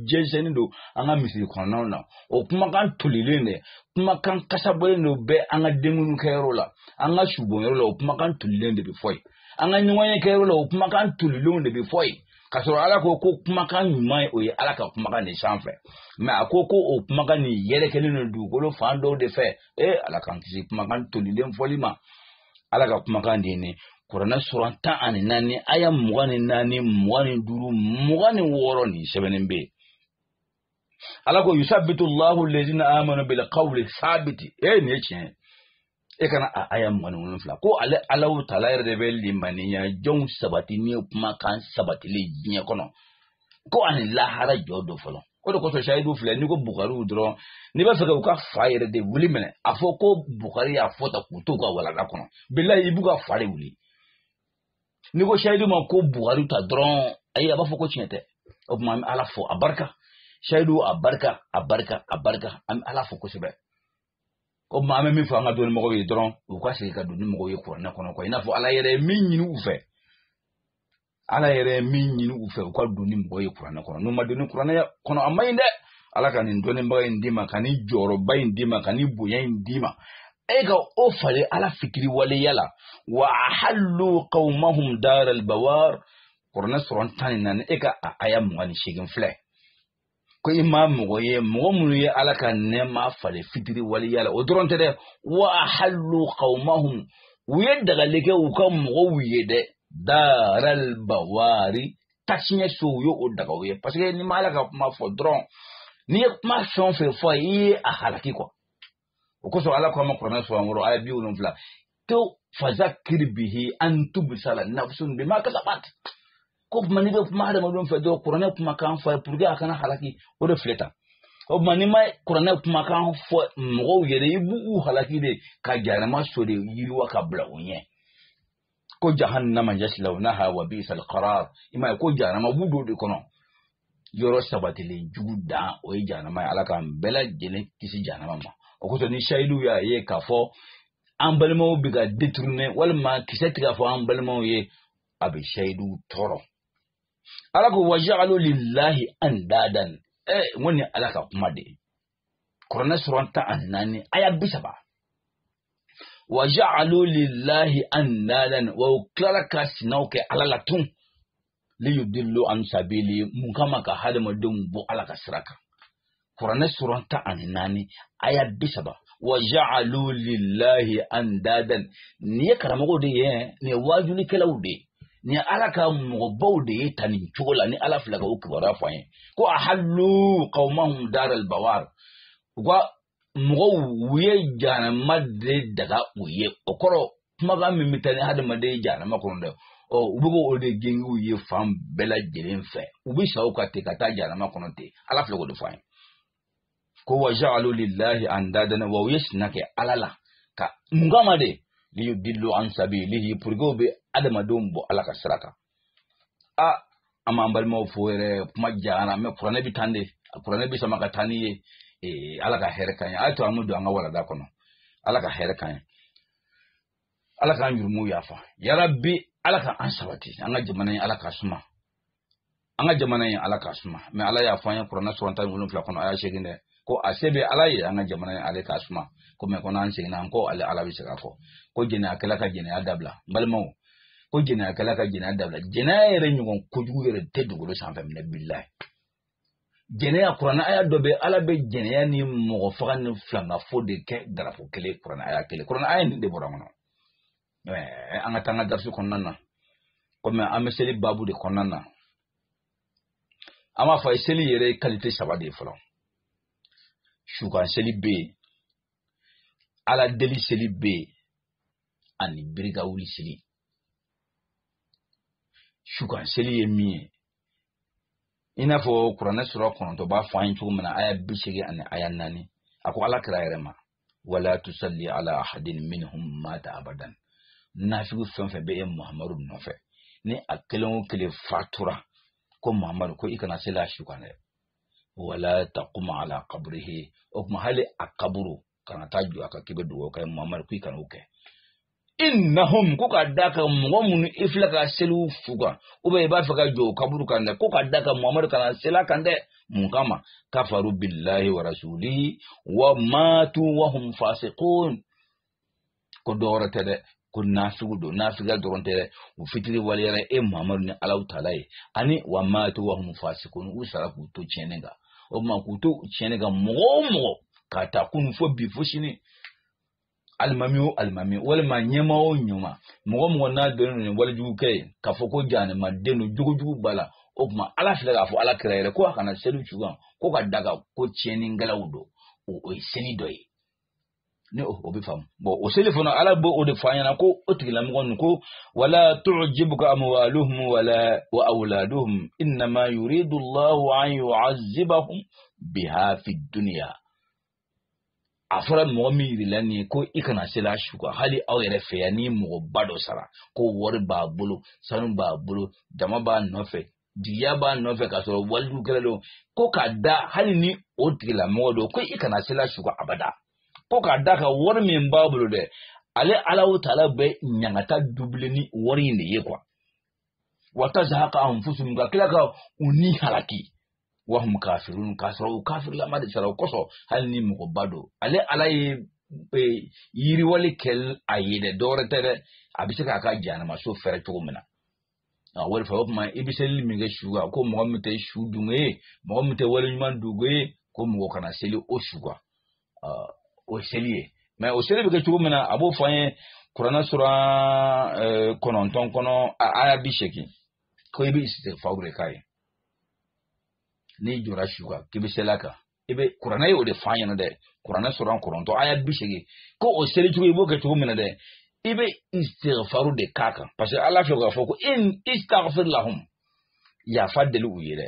jɛnsɛnnen don an ka misiri kɔnɔnaw na o kumakan tolilen de kumakan kasabɔlen de bɛ an ka denkun kɛyɔrɔ la an ka subonyɔrɔ la o kumakan tolilen de bɛ fɔ yen an ka ɲɔgɔnye kɛyɔrɔ la o kumakan tolilenw de bɛ fɔ yen k'a sɔrɔ ala ko ko kumakan ɲuman ye o ye ala ka kumakan de sanfɛ mais a ko ko o kumakan nin yɛrɛkɛlen don dugukolo fan dɔw de fɛ ee ala k'an kisi kumakan tolilen fɔli ma ala ka kumakan de ye nin kuranɛ suran tan ani naani aya mugan ni naani mugan ni duuru mugan ni wɔɔrɔ nin sɛbɛnnen bɛ yen ala ko yusabitu llahu lezina amanu bil qawli sabiti e nin ye tiɲɛ e ka na a aya mugan ni wolonwula ko ale ala taala yɛrɛ de bɛ limaniya jɔnw sabati ni kumakan sabatilen diɲɛ kɔnɔ ko ani lahara jɔ don fɔlɔ o de kosɔn sayidu filɛ n'i ko bukariw dɔrɔn n'i b'a fɛ ka u ka fa yɛrɛ de wuli minɛ a fɔ ko bukari y'a fɔ ta k'u to u ka walanda kɔnɔ bilayi i b'u ka fa de wuli n'i ko sayidu ma ko bukari ta dɔrɔn ayi a b'a fɔ ko tiɲɛ tɛ o tuma an bɛ ala fo a barika sayidu a barika a barika a barika an bɛ ala fo kosɛbɛ o tuma an bɛ min fɔ an ka dɔnni mɔgɔw ye dɔrɔn u ka segin ka don ni mɔgɔw ye kuranɛ kɔnɔ kɔ i n'a fɔ ala yɛrɛ ye min ɲini u fɛ ala yɛrɛ min ɲini u fɛ u ka don ni mɔgɔ ye kuranɛ kɔnɔ n'u ma don ni kuranɛ kɔnɔ a man ɲi dɛ ala ka nin dɔnnibaga in d'i ma ka nin jɔyɔrɔba in d'i ma ka nin bonya in d'i ma e ka o falen ala fitiriwaleya la wa ahallu qawmahum daral bawar kuranɛ suran tan ni naani e ka a aya mugan ni seegin filɛ ko i ma mɔgɔ ye mɔgɔ minnu ye ala ka nɛɛma falen fitiriwaleya la o dɔrɔn tɛ dɛ wa ahallu qawmahum u ye dagali kɛ u ka mɔgɔw ye dɛ daral bawari tasiɲɛ so u ye o daga u ye parce que n'i ma ala ka kuma fɔ dɔrɔn n'i ye kuma fɛn o fɛn fɔ i ye a halaki kɔ o kosɔn ala ko an ma kuranɛ suran wɔɔrɔ aya bi wolonwula to fazakir bihi an tubisala nafsun bima kasabat ko tuma n'i bɛ kuma hadamadenw fɛ dɔrɔn kuranɛ kumakan fɔ a ye pour que a kana halaki o de filɛ tan o tuma n'i ma kuranɛ kumakan fɔ mɔgɔw ye dɛ i b'u halaki de ka jahanama so de yiriwa ka bila u ɲɛ ko jahannama yaslawnaha wa bi'sal qarar i m'a ye ko jahanama u bɛ don o de kɔnɔ yɔrɔ sabatilen jugu dan o ye jahanama ye ala k'an bɛɛ lajɛlen kisi jahanama ma o kosɔn ni sayidu y'a ye k'a fɔ an balimaw bɛ ka détourner walima kisɛ tɛ ka fɔ an balimaw ye a bɛ sayidu tɔɔrɔ ala ko wa ja'alu lillahi andadan ɛ n ko nin ala ka kuma de ye kuranɛ suran tan ani naani aya bi saba wa ja'alu lillahi andadan wa u tilala ka sinaw kɛ ala la tun liyudillu an sabili mun kama ka hadamadenw bɔ ala ka sira kan kuranɛ suran tan ani naani aya bi saba wa ja'alu lillahi andadan nin ye karamɔgɔw de ye nin ye waajulikɛlaw de ye nin y'ala ka mɔgɔbaw de ye tan nin cogo la ni ala filɛ ka u kibaruya fɔ an ye ko ahallu qawmahum daral bawar u ka mɔgɔw u ye jahanama de daga u ye o kɔrɔ kumakan min bɛ taa ni hadamaden ye jahanama kɔnɔ dɛ ɔ u bɛ k'o de gengen u ye fan bɛɛ lajɛlen fɛ u bɛ sa o kan ten ka taa jahanama kɔnɔ ten ala filɛ k'o de fɔ an ye ko wa ja'alu lillahi andadan u ye sina kɛ ala la ko mun kama de li yudillu an sabilihi pour que u bɛ hadamadenw bɔ ala ka sira kan a amma an balimaw fo yɛrɛ kuma jara mɛ kuranɛ b'i ta de kuranɛ b'i sama ka taa n'i ye eh, ala ka hɛrɛ k'an ye a to an ka don an ka walanda kɔnɔ ala ka hɛrɛ k'an ye ala k'an yurumuw yafa yarabi ala ka an sabati an ka jamana in ala k'a suma an ka jamana in ala k'a suma mɛ ala y'a fɔ an ye kuranɛ suran tan wolonfila kɔnɔ aya seegin dɛ ko a se bɛ ala ye an ka jamana in ale k'a suma ko mɛ ko n'an seginna an kɔ ale ala bɛ se k'a fɔ ko jɛnɛyakɛla ka jɛnɛya dabila n balimaw ko jɛnɛyakɛla ka jɛnɛya dabila jɛnɛya yɛrɛ ɲɔgɔn kojugu yɛrɛ tɛ dugukolo sanfɛ minɛ bilayi jɛnɛya kuranɛ aya dɔ bɛ ala bɛ jɛnɛya ni mɔgɔ faga ni filankafo de kɛ daraja kelen kuranɛ aya kelen kuranɛ aya nin de bɔra kɔnɔ an ka taa an ka darisi kɔnɔna na kɔmi an bɛ seli baabu de kɔnɔna na an b'a fɔ a ye seli yɛrɛ ye kalite saba de ye fɔlɔ su kan seli bɛ yen ala deli seli bɛ yen ani biri ka wuli seli su kan seli ye min ye i n'a fɔ kuranɛ suran kɔnɔntɔn b'a fɔ an ye cogo min na aya bi seegin ani aya naani a ko ala kira yɛrɛ ma wala tusalli ala ahadin minhum mata abadan nafigu fɛn o fɛn bɛ e muhamadu nɔfɛ ni a kelen o kelen fatura ko muhamadu ko i kana sel'a su kan dɛ wala taqum ala qabrihi o tuma hali a kaburu kana taa jɔ a kan k'i bɛ dugawu kɛ muhamadu ko i kana o kɛ innahum ko ka da ka mɔgɔ minnu i filɛ ka seli u su kan ou bien i b'a fɛ ka jɔ u kaburu kan dɛ ko ka da ka muhamadu kana sel'a kan dɛ mun kama kafaru billahi wa rasulihi wa matu wa hum fasiqun ko dɔ wɛrɛ tɛ dɛ ko nafigu don nafiguya dɔrɔn tɛ dɛ u fitiriwaleyara e muhamadu ni ala taala ye ani wa matu wa hum fasiqun u sara k'u to tiɲɛni kan o tuma k'u to tiɲɛni kan mɔgɔ o mɔgɔ k'a ta kunu fo bi fo sini alimami o alimami walima ɲɛmaa o ɲɛmaa mɔgɔ o mɔgɔ n'a dɔnnen don ni walejugukɛla ye k'a fɔ ko jahanamaden don jogojugu b'a la o tuma ala filɛ k'a fɔ ala kira yɛrɛ ko a kana seli su kan ko k'a da kan ko tiɲɛnikɛlaw don o ye seli dɔ ye ni o bɛ faamu bon o seli fana ala b'o o de fɔ an ɲɛna ko o tigilamɔgɔ ninnu ko wala tujibuka amwaluhum wala wa awladuhum innama yuridu allahu an yu'azzibahum biha fi dunya a fɔra mɔgɔ min yirila nin ye ko i kana sel'a su kan hali aw yɛrɛ fɛ yan ni mɔgɔba dɔ sara ko wari b'a bolo sanu b'a bolo jama b'a nɔfɛ jigiya b'a nɔfɛ k'a sɔrɔ walejugukɛla don ko k'a da hali ni o tigilamɔgɔ don ko i kana sel'a su kan abada ko k'a da kan wari min b'a bolo dɛ ale ala o taala bɛ ɲangata doubler ni wari in de ye quoi wa tazhaqa anfusuhum ka tila ka u ni halaki wa hum kafirun k'a sɔrɔ u kafirlama de sara o kosɔn hali ni mɔgɔba don ale ala ye e, yiriwali kɛ a ye dɛ dɔwɛrɛ tɛ dɛ a bɛ se k'a ka janamaso fɛrɛ cogo min na a wari fɛ o tuma i bɛ selili min kɛ su kan ko mɔgɔ min tɛ su dun ye mɔgɔ min tɛ waleɲumandɔn ye ko mɔgɔ kana seli o su kan o ye seli ye mais o seli bɛ kɛ cogo min na a b'o fɔ an ye kuranɛ sura kɔnɔntɔn kɔnɔ aya bi seegin ko i bɛ isitigifaru de k'a ye n'i jɔra su kan k'i bɛ seli a kan i bɛ kuranɛ ye o de fɔ an ɲɛna dɛ kuranɛ sura kɔnɔntɔn aya bi seegin ko o seli cogo i b'o kɛ cogo min na dɛ i bɛ isitigifaru de k'a kan parce que ala fɛ k'a fɔ ko in istaghfir lahum yafa deli u ye dɛ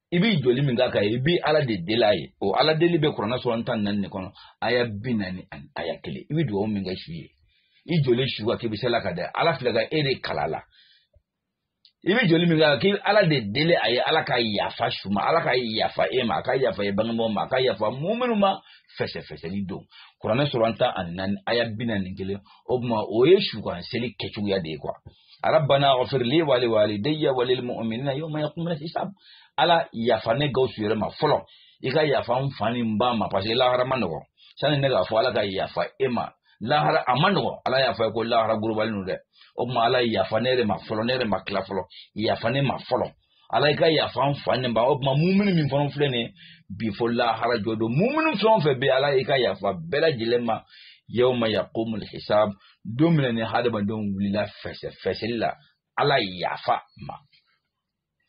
i b'i jɔli min k'a kan i b'i ala de deli a ye o ala deli bɛ kuranɛ sura tan naani de kɔnɔ aya bi naani ani aya kelen i bɛ dugawu min kɛ su ye i jɔlen su kan k'i bɛ sel'a kan dɛ ala filɛ ka e de kala la i bɛ jɔli min kɛ k'i ala de deli a ye ala ka yafa su ma ala ka yafa e ma a ka yafa e bangebaaw ma a ka yafa muminiw ma fɛsɛfɛsɛli don kuranɛ sura tan ani naani aya bi naani kelen o tuma o ye su kan seli kɛcogoya de ye quoi rabbana ghfir li wa li walidayya wa lil mu'minina yawma yaqumul hisab ala yafa ne gawusu yɛrɛ ma fɔlɔ i ka yafa n fa ni n ba ma parce que lahara man nɔgɔ sani ne k'a fɔ ala ka yafa e ma lahara a man nɔgɔ ala y'a fɔ ye ko lahara gorobalen don dɛ o tuma ala yafa ne yɛrɛ ma fɔlɔ ne yɛrɛ ma tila fɔlɔ yafa ne ma fɔlɔ ala i ka yafa n fa ni n ba o tuma muminu min fana filɛ nin ye bi fo lahara jɔ don muminu fɛn o fɛn bɛ ala i ka yafa bɛɛ lajɛlen ma yawma yaqumul hisab don min na ni hadamadenw wulila fɛsɛfɛsɛli la ala yafa ma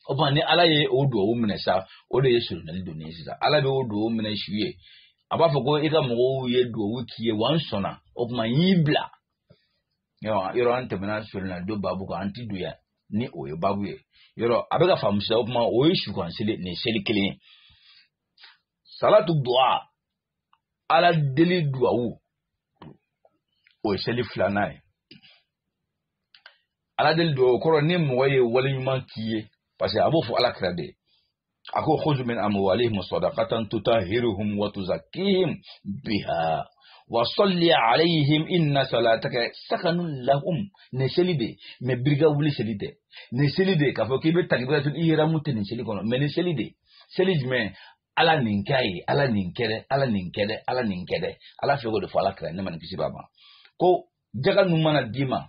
o tuma ni ala ye o duwawu minɛ sa o de ye soronadonni ye sisan ala bɛ o duwawu minɛ su ye a b'a fɔ ko i ka mɔgɔw ye duwawu k'i ye wa n sɔnna o tuma n y'i bila yɔrɔ an tɛmɛna soronadon babu kan an tɛ don yan ni o ye babu ye yɔrɔ a bɛ k'a faamu sisan o tuma o ye su kan seli nin seli kelen ye salatu duwa ala deli duwawu o ye seli filanan ye ala deli duwawu kɔrɔ ni mɔgɔ ye wale ɲuman k'i ye parce que a b'o fɔ ala kira de ye a ko khudh min amwalihim sadaqatan tutahhiruhum wa tuzakkihim biha wa salli alayhim inna salataka sakanun lahum nin seli de mɛ biri ka wuli seli tɛ nin seli de k'a fɔ k'i bɛ takibiratul ihramu tɛ nin seli kɔnɔ mɛ nin seli de seli jumɛn ala nin k'a ye ala nin kɛ dɛ ala nin kɛ dɛ ala nin kɛ dɛ ala filɛ k'o de fɔ ala kira nɛɛma ni kisi b'a ma ko jaka ninnu mana d'i ma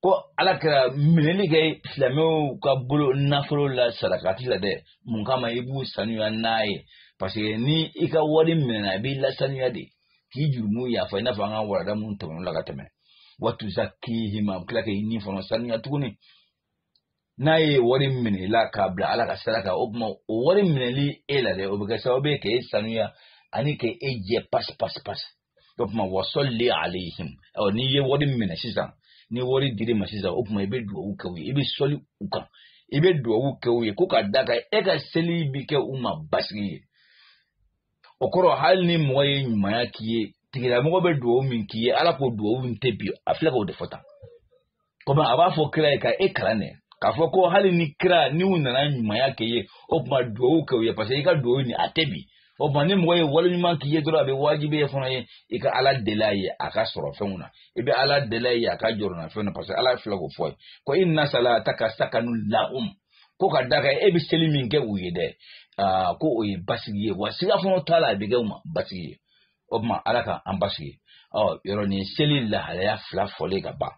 ko ala kira minɛli kɛ silamɛw ka bolo nafolo la sadakati la dɛ mun kama i b'u sanuya n'a ye paseke ni i ka wari minɛna a b'i lasanuya de k'i jurumu yafa i n'a fɔ an ka warada minnu tɛmɛn'o la ka tɛmɛ wa tuzakkihim a bɛ tila k'i ni fana sanuya tuguni n'a ye wari minɛ i la k'a bila ala ka sira kan o tuma o wari minɛli e la dɛ o bɛ kɛ sababu ye ka e sanuya ani ka e jɛ pasi pasi pasi o tuma wa salli alayhim ɔ n'i ye wari minɛ sisan ni wari dir'i ma sisan o tuma i bɛ dugawu kɛ u ye i bɛ seli u kan i bɛ dugawu kɛ u ye ko ka da kan e ka seli bɛ kɛ u ma basigi ye o kɔrɔ hali ni mɔgɔ ye ɲumanya k'i ye tigilamɔgɔ bɛ dugawu min k'i ye ala k'o dugawu nin tɛ bin a filɛ k'o de fɔ tan kɔmi a b'a fɔ kira ye ka e kalan dɛ k'a fɔ ko hali ni kira ni u nana ɲumanya k'i ye o tuma dugawu kɛ u ye paseke i ka dugawu nin a tɛ bin o tuma ni mɔgɔ ye wale ɲuman k'i ye dɔrɔn a bɛ wajibiya e fana ye i ka ala deli a ye a ka sɔrɔ fɛnw na i bɛ ala deli a ye a ka jɔrɔnafɛnw na paseke ala filɛ k'o fɔ ye ko inna salataka sakanun lahum ko ka d'a kan e bɛ seli min kɛ u ye dɛ aa ko o ye basigi ye wa siga fana t'a la a bɛ kɛ u ma basigi ye o tuma ala ka an basigi ɔ yɔrɔ nin seli lahalaya fila fɔlen ka ban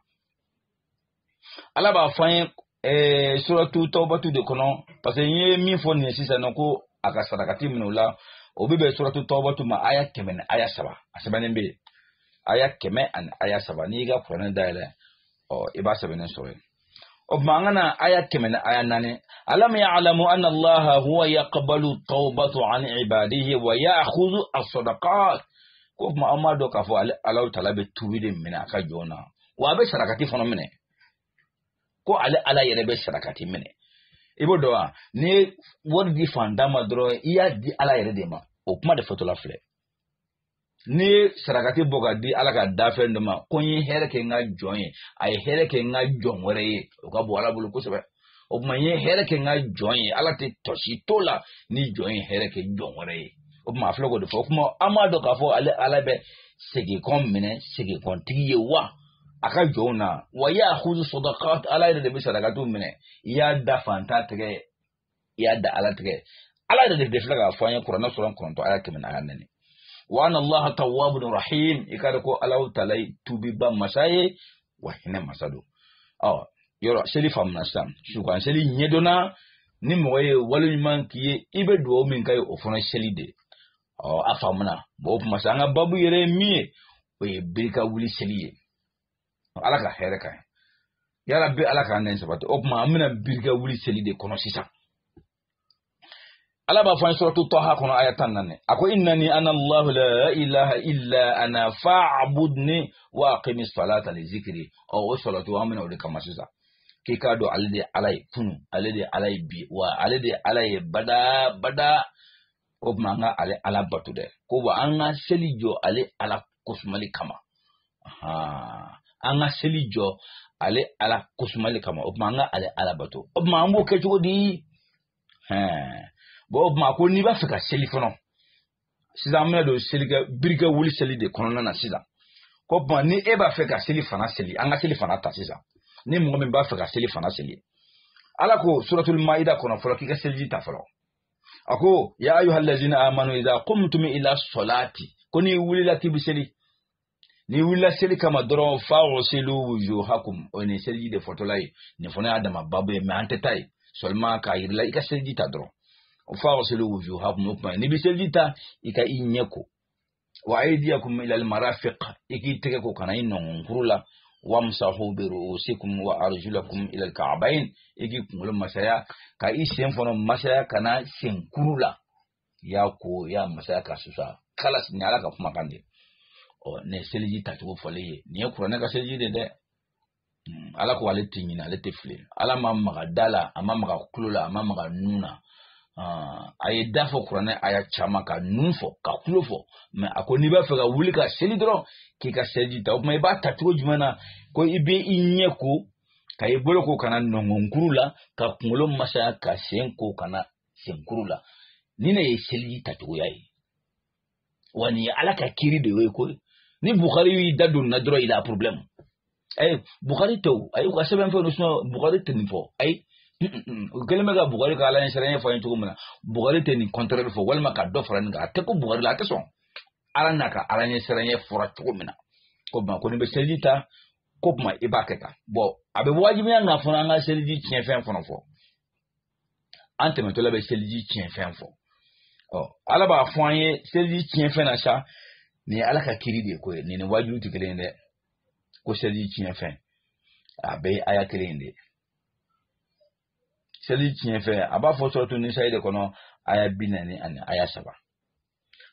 ala b'a fɔ an ye ɛɛ suratu tɔwbatu de kɔnɔ parce que n ye min fɔ nin ye sisan nɔ ko a ka sarakati minɛ u la o bɛ bɛn suratu tɔwbatu ma aya kɛmɛ ni aya saba a sɛbɛnnen bɛ yen aya kɛmɛ ani aya saba n'i y'i ka kuranɛ dayɛlɛ ɔ i b'a sɛbɛnnen sɔrɔ yen o tuma an ka na aya kɛmɛ ni aya naani alam ya'lamu anna allaha huwa yaqbalu tawbatu an ibadihi wa ya'khudhu as-sadaqat ko tuma an m'a dɔn k'a fɔ ale allahu taala bɛ tubi de minɛ a ka jɔn na wa a bɛ sarakati fana minɛ ko ale ala yɛrɛ bɛ sarakati minɛ i b'o dɔn wa n'i ye wari di fantan ma dɔrɔn i y'a di ala yɛrɛ de ma o kuma de fɔtɔla filɛ n'i ye sarakati bɔ ka di ala ka dafɛn dɔ ma ko n ye hɛrɛ kɛ n ka jɔn ye a ye hɛrɛ kɛ n ka jɔn wɛrɛ ye o ka bon ala bolo kosɛbɛ o tuma n ye hɛrɛ kɛ n ka jɔn ye ala tɛ tɔ si to la ni jɔn ye hɛrɛ kɛ jɔn wɛrɛ ye o tuma a filɛ k'o de fɔ o tuma an m'a dɔn k'a fɔ ale ala bɛ seginkɔ minɛ seginkɔtigi ye wa a ka jɔnw na wa ya'khudhu as-sadaqat ala yɛrɛ de bɛ sarakatiw minɛ i y'a da fantan tɛgɛ i y'a da ala tɛgɛ ala yɛrɛ de bɛ filɛ k'a fɔ an ye kuranɛ sura kɔnɔntɔn aya kɛmɛ naani nɛni wa anna allah tawwabun rahim i k'a dɔn ko ala taala ye tuubiba masa ye wa hinɛ masa don ɔ yɔrɔ seli faamuna sisan sukan seli ɲɛdɔnna ni mɔgɔ ye wale ɲuman k'i ye i bɛ dugawu min k'a ye o fana seli de ɔ a faamuna o tuma sa an ka babu yɛrɛ ye min ye o ye biri ka wuli seli ye ala ka hɛrɛ k'an ye ya rabbi ala k'an bɛɛ sabati o tuma an bɛ na biri ka wuli seli de kɔnɔ sisan ala b'a fɔ an suratu taha kɔnɔ aya tan naani a ko innani ana allahu la ilaha illa ana fa'budni wa aqimi salata li zikri ɔ o salatu an bɛna o de kama sisan k'i k'a dɔn ale de ye ala ye kunun ale de ye ala ye bi wa ale de ye ala ye bada bada o tuma an ka ale ala bato dɛ ko wa an ka seli jɔ ale ala kosumali kama an ka seli jɔ ale ala kosumali kama o tuma an ka ale ala bato o tuma an b'o kɛ cogo di bɔn o tuma ko n'i b'a fɛ ka seli fɔlɔ sisan an bɛna don selikɛ biri ka wuli seli de kɔnɔna na sisan ko tuma ni e b'a fɛ ka selifana seli an ka selifana ta sisan ni mɔgɔ min b'a fɛ ka selifana seli ala ko suratul maida kɔnɔ fɔlɔ k'i ka seliji ta fɔlɔ a ko ya ayyuha allazina amanu idza qumtum ila salati ko n'i wulila k'i bɛ seli n'i wulila seli kama dɔrɔn fa ghsilu wujuhakum o ni seliji de fɔtɔla ye nin fana y'a dama babu ye mais an tɛ taa yen seulement k'a yir'i la i ka seliji ta dɔrɔn fa ghsilu wujuhakum o tuma n'i bɛ seliji ta i ka i ɲɛ ko wa aydiyakum ila almarafiq i k'i tɛgɛ ko ka na i nɔngɔnkuru la wamsahu bi ru'usikum wa arjulakum ila alka'bayn i k'i kunkolo masaya ka i sen fana masaya ka na senkuru la y'a ko y'a masaya ka susa kala nin ala ka kumakan de ɔ ne seliji tacogo fɔlen ye nin ye kuranɛ ka seliji de dɛ hmm, ala ko ale tɛ ɲinɛ ale tɛ fili ala ma maga da la a ma maga tulo la a ma maga nun na ah, a ye da fɔ kuranɛ aya caman ka nun fɔ ka tulo fɔ mɛ a ko n'i b'a fɛ ka wuli ka seli dɔrɔn k'i ka seliji ta o tuma i b'a ta cogo jumɛn na ko i bɛ i ɲɛ ko ka i bolo ko ka na nɔngɔnkuru la ka kunkolo masaya ka sen ko ka na senkuru la nin de ye seliji tacogoya ye wa nin ye ala ka kiri de ye koyi ni bukari y'i da don na dɔrɔn il y a problème ayi eh, bukari tɛ ayi u ka sɛbɛn fɛn don bukari tɛ nin fɔ ayi u kɛlen bɛ ka bukari ka ala ɲɛ siranya fɔ an ye cogo min na bukari tɛ nin contraire fɔ walima ka dɔ fara nin kan a tɛ kun bukari la a tɛ sɔn a la n'a ka ala ɲɛ siranya fɔra cogo min na ko tuma ko n'i bɛ seliji ta k'o tuma i b'a kɛ tan bɔn a bɛ wajibiya an kan fana an ka seliji tiɲɛfɛn fana fɔ an tɛmɛtɔla bɛ seliji tiɲɛfɛn fɔ ɔ ala b'a fɔ an ye seliji tiɲɛfɛn na sa nin ye ala ka kiri de koyi nin ni waajuli tɛ kelen ye dɛ ko seliji tiɲɛfɛn a bɛɛ ye aya kelen in de ye seli tiɲɛfɛn a b'a fɔ suratu nisayi de kɔnɔ aya bi naani ani aya saba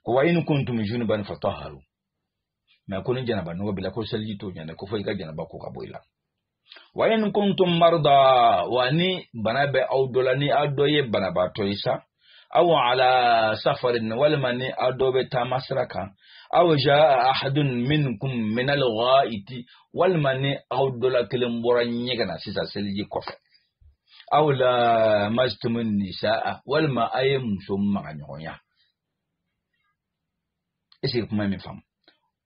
ko wa in kuntum junuban fattahharu mɛ ko ni janaba nɔgɔ b'i la ko seliji t'o ɲɛ dɛ ko fɔ i ka janaba ko ka bɔ i la wa in kuntum marda wa ni bana bɛ aw dɔ la ni aw dɔ ye banabaatɔ ye sa aw ala safarin walima ni aw dɔ bɛ taama sira kan aw jaa ahadun minkum min alghaiti walima ni aw dɔ la kelen bɔra ɲɛgɛn na sisan seliji kɔfɛ aw lamastumun nisaa walima a ye muso maga ɲɔgɔnya est-ce que kuma in bɛ faamu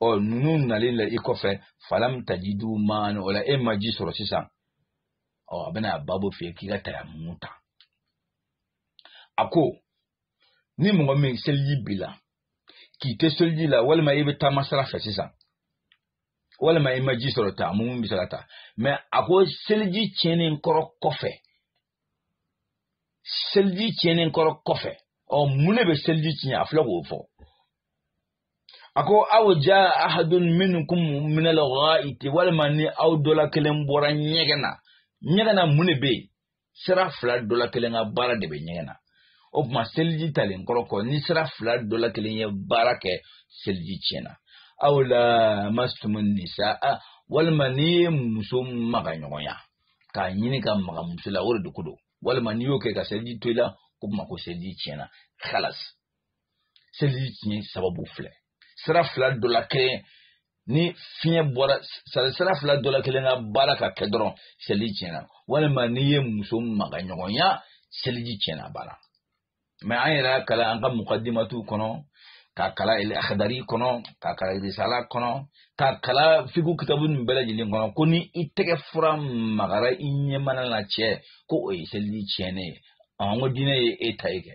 ɔ ninnu nalen la i kɔfɛ falam tajidu maan o la e ma ji sɔrɔ sisan ɔ a bɛna a babo f'i ye k'i ka tayamumu ta a ko ni mɔgɔ min seliji b'i la k'i tɛ seliji la walima i bɛ taama sira fɛ sisan walima i ma ji sɔrɔ tayamumu bɛ se ka ta mɛ a ko seliji tiɲɛnen kɔrɔ kɔfɛ seliji tiɲɛnen kɔrɔ kɔfɛ ɔ mun de bɛ seliji tiɲɛ a filɛ k'o fɔ a ko aw ja ahadun minkum min al-ghaiti walima ni aw dɔla kelen bɔra ɲɛgɛn na ɲɛgɛn na mun de bɛ yen sira fila dɔla kelen ka baara de bɛ ɲɛgɛn na o tuma seliji talen kɔrɔ kɔ ni sira fila dɔla kelen ye baara kɛ seliji tiɲɛna aw lamastumun nisa walima n'i ye muso maga ɲɔgɔnya k'a ɲini ka maga muso la o de ko don walima n'i y'o kɛ ka seliji to i la k'o tuma ko seliji tiɲɛna kalas seliji tiɲɛ sababu filɛ sira fila dɔ la kelen ni fiɲɛ bɔra sira fila dɔ la kelen ka baara ka kɛ dɔrɔn seliji tiɲɛna walima n'i ye muso maga ɲɔgɔnya seliji tiɲɛna a banna mɛ an yɛrɛ y'a kalan an ka mukadimatiw kɔnɔ k'a kalan akadari kɔnɔ k'a kalan irisala kɔnɔ k'a kalan figu kitabu nin bɛɛ lajɛlen kɔnɔ ko ni i tɛgɛ fura magara i ɲɛmana na cɛ ko o ye seliji tiɲɛnen ye ɔn ko diinɛ ye e ta ye kɛ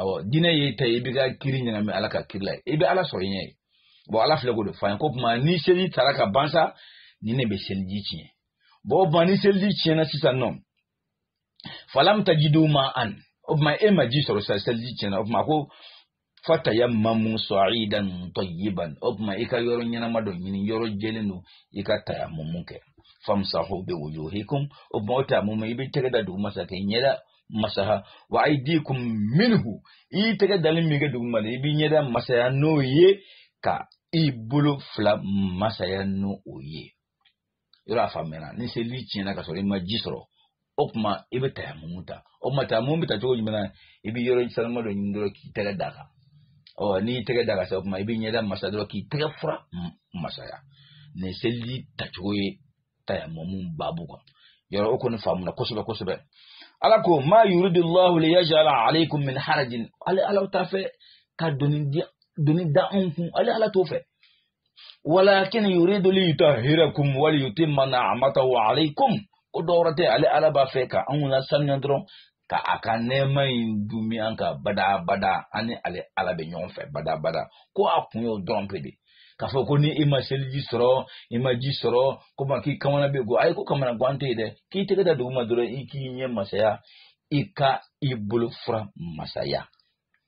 awɔ diinɛ ye e ta ye i b'i ka kiri ɲagami ala ka kiri la i bɛ ala sɔrɔ i ɲɛ ye bɔn ala filɛ k'o de fɔ an ye k'o tuma ni seli tara ka ban sa nin de bɛ seliji tiɲɛ bɔn o tuma ni seliji tiɲɛna sisan nɔ falam tajidu ma'an o tuma e ma ji sɔrɔ sisan seliji tiɲɛna o tuma ko fatayammamu sa'idan tayyiban o tuma i ka yɔrɔ ɲɛnama dɔ ɲini yɔrɔ jɛlen dɔ i ka tayamumu kɛ famsahu bi wujuhikum o tuma o tayamumu i b'i tɛgɛ da duguma sa k'i ɲɛda masaha wa aydikum minhu i tɛgɛ dalen min kɛ duguma la i b'i ɲɛda masaya n'o ye ka i bolo fila masaya n'o ye yɔrɔ a faamuyana ni seli tiɲɛna ka sɔrɔ i ma ji sɔrɔ o tuma i bɛ tayamumu ta o tuma tayamumu bɛ ta cogo jumɛn na i bɛ yɔrɔ sanuman dɔ ɲini dɔrɔn k'i tɛgɛ d'a kan ɔ n'i y'i tɛgɛ d'a kan sa o tuma i b'i ɲɛda masa dɔrɔn k'i tɛgɛ fura masaya nin seliji tacogo ye tayamumu baabu kan yɔrɔ o kɔni faamuna kosɛbɛ kosɛbɛ ala ko ma yuridullahu liyajala alaykum min harajin ale ala t'a fɛ ka doni di doni da anw kun ale ala t'o fɛ walakin yuridu li yutahhirakum wa li yutimma ni'matahu alaykum ko dɔwɛrɛ tɛ ale ala b'a fɛ ka anw lasanuya dɔrɔn ka a ka nɛɛma in dumi an kan badabada an ni ale ala bɛ ɲɔgɔn fɛ badabada ko a kun y'o dɔrɔn pe de k'a fɔ ko ni i ma seliji sɔrɔ i ma ji sɔrɔ k'o ma k'i kamana bɛ gan ayi ko kamanagan tɛ yen dɛ k'i tɛgɛ da duguma dɔrɔn i k'i ɲɛ masaya i ka i bolo fura masaya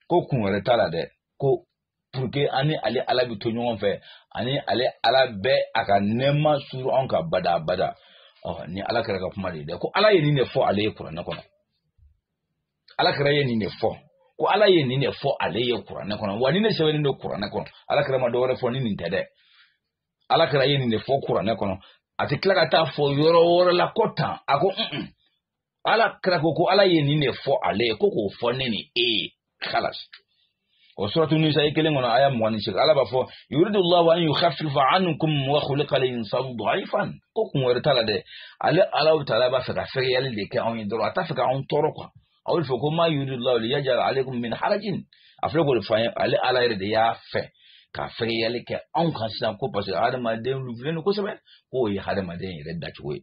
ko kun wɛrɛ t'a la dɛ ko puruke an ni ale ala bɛ to ɲɔgɔn fɛ ani ale ala bɛ a ka nɛɛma suuru anw kan bada bada ɔ nin ala kira ka kuma de ye dɛ ko ala ye nin de fɔ ale ye kuranɛ kɔnɔ ala kira ye nin de fɔ ko ala ye nin de fɔ ale ye kuranɛ kɔnɔ wa nin de sɛbɛnnen don kuranɛ kɔnɔ ala kira ma dɔ wɛrɛ fɔ ni nin tɛ dɛ ala kira ye nin de fɔ kuranɛ kɔnɔ a tɛ tila ka taa a fɔ yɔrɔ wɛrɛ la ko tan a ko ala kira ko ko ala ye nin de fɔ ale ye ko k'o fɔ ne ni e ye kalas o suratu nisayi kelen kɔnɔ aya mugan ni seegin ala b'a fɔ yuridu llahu an yukhaffifa ankum wa khuliqa al-insanu da'ifan ko kun wɛrɛ t'a la dɛ ale ala bɛ taala b'a fɛ ka fɛgɛyali de kɛ anw ye dɔrɔn a t'a fɛ ka anw tɔɔrɔ kuwa aw bɛ fɛ ko ma yuridu llahu liyaj'ala alaykum min harajin a filɛ k'o de fɔ an ye ale ala yɛrɛ de y'a fɛ ka fɛgɛyali kɛ anw kan sisan ko parce que hadamaden lafulen don kosɛbɛ k'o ye hadamaden yɛrɛ dacogo ye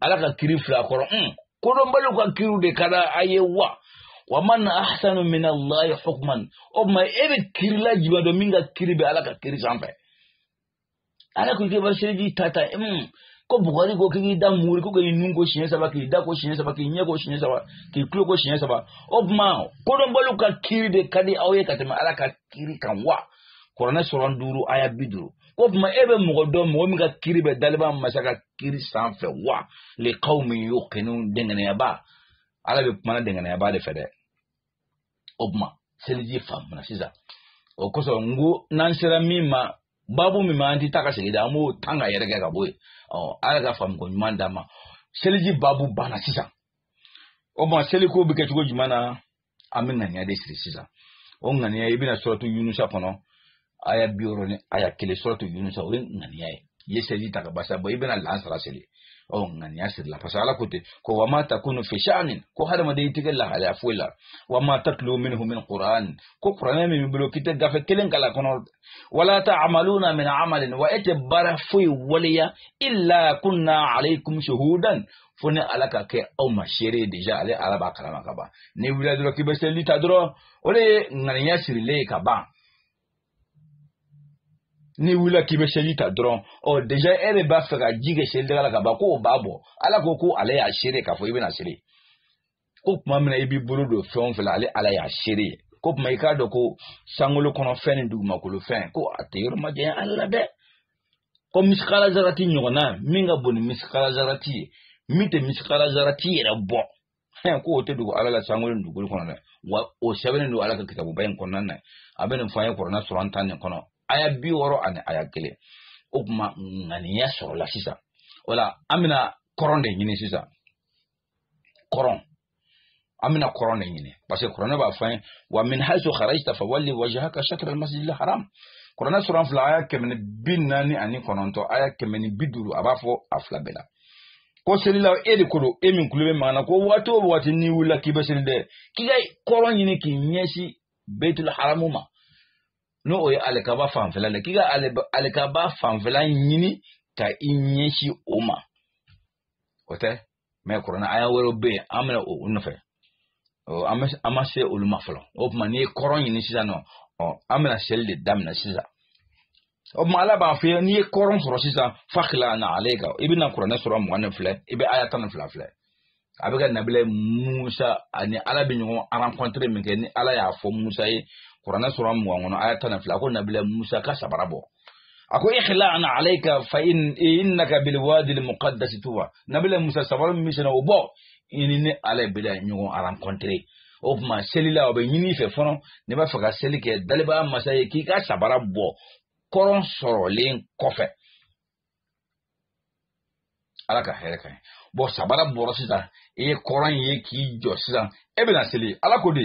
ala ka kiri fila kɔrɔ un kodɔnbaliw ka kiriw de ka di a ye wa wa man ahsanu min allahi hukman o tuma e bɛ kirila jumɛn dɔn min ka kiri bɛ ala ka kiri sanfɛ ala ko k'i bɛ seliji ta tan un ko bugɔli ko k'i da muuri ko k'i nun ko siɲɛ saba k'i da ko siɲɛ saba k'i ɲɛ ko siɲɛ saba k'i tulo ko siɲɛ saba o tuma kodɔnbaliw ka kiri de ka di aw ye ka tɛmɛ ala ka kiri kan wa kuranɛ sura duuru aya bi duuru o tuma e bɛ mɔgɔ dɔn mɔgɔ min ka kiri bɛ daliba masa ka kiri sanfɛ wa li qawmin yuqinun dɛngɛnɛyabaa ala bɛ kuma na dɛngɛnɛyabaa de fɛ dɛ o tuma seliji faamuna sisan o kosɔn n ko n'an sera min ma babu min ma an tɛ taa ka segin dɛ an b'o ta k'a yɛrɛkɛ ka bɔ yen ɔ ala ka faamuko ɲuman d'an ma seliji babu banna sisan o tuma seliko bɛ kɛ cogo jumɛn na an bɛ ŋaniya de siri sisan o ŋaniya i bɛna suratu yunusa kɔnɔ aya bi wɔɔrɔ ni aya kelen suratu yunusa o ye ŋaniya ye i ye seliji ta ka basa bɔ i bɛna lansara seli ɔ ŋaniya sirila parce que ala ko ten ko wa ma takunu fi sha'anin ko hadamaden i tɛ kɛ lahalaya foyi la wa ma tatlu minhu min qur'an ko kuranɛ min b'i bolo k'i tɛ gafe kelen kalan kɔnɔ wala ta'maluna min amalin wa e tɛ baara foyi waleya illa kunna alaykum shuhudan fo ni ala ka kɛ aw ma seere ye deja ale ala b'a kalama ka ban n'i wulila dɔrɔn k'i bɛ seli ta dɔrɔn o de ye ŋaniya sirilen ye ka ban n'i wulila k'i bɛ seli ta dɔrɔn ɔ deja e de b'a fɛ ka ji kɛ seli daga la ka ban k'o b'a bɔ ala ko ko ale y'a seere k'a fɔ i bɛna seli ko tuma min na i b'i bolo don fɛn o fɛn la ale ala y'a seere ye k'o tuma i k'a dɔn ko sankolo kɔnɔ fɛn ni dugumakolo fɛn ko a tɛ yɔrɔ ma janya ala la dɛ ko misikala zarati ɲɔgɔnna min ka bon ni misikala zarati ye min tɛ misikala zarati yɛrɛ bɔ fɛn ko o tɛ dogo ala la sankolo ni dugukolo kɔnɔ dɛ wa o sɛbɛnnen don ala ka kitabuba in kɔnɔna na a bɛ nin fɔ an ye kuranɛ sura tan nin kɔnɔ aya bi wɔɔrɔ ani aya kelen o tuma ŋaniya sɔrɔla sisan o la an bɛna kɔrɔn de ɲini sisan kɔrɔn an bɛna kɔrɔn de ɲini parce que kuranɛ b'a fɔ an ye wa min haisu kharajta fawalli wajhaka shatra almasjidil haram kuranɛ sura fila aya kɛmɛ ni bi naani ani kɔnɔntɔn aya kɛmɛ ni bi duuru a b'a fɔ a fila bɛɛ la ko selila e de ko don e min tulo bɛ an na ko waati o waati n'i wulila k'i bɛ seli dɛ k'i ka kɔrɔn ɲini k'i ɲɛsin beitul haramu ma n'o o ye alikaba fanfɛla la k'i ka alikaba fanfɛla ɲini ka i ɲɛsin o ma o tɛmɛ kuranɛ aya wɛrɛw bɛ yen an bɛna o nɔfɛ an ma se olu ma fɔlɔ o tuma n'i ye kɔrɔn ɲini sisan nɔ an bɛna seli de daminɛ sisan o tuma ala b'a f'i ye n'i ye kɔrɔn sɔrɔ sisan fakhla' na'alayka i bɛna kuranɛ sura mugan in filɛ i bɛ aya tan ni fila filɛ a bɛ ka nabila musa ani ala bɛ ɲɔgɔn rencontrer minkɛni ala y'a fɔ musa ye kuranɛ sura mugan kɔnɔ aya tan ni fila ko nabila musa ka sabara bɔ a ko ikhla' na'alayka innaka bil wadil muqaddasi tuwa nabila musa sabara min b'i sen na o bɔ i ni ne ala bɛna ɲɔgɔn rencontrer o tuma seli la a bɛ ɲini i fɛ fɔlɔ n'e b'a fɛ ka seli kɛ dalibaa masa ye k'i ka sabara bɔ kɔrɔn sɔrɔlen kɔfɛ ala ka hɛrɛ ka ɲi bon sabara bɔra sisan i ye kɔrɔn ye k'i jɔ sisan e bɛna seli ala ko de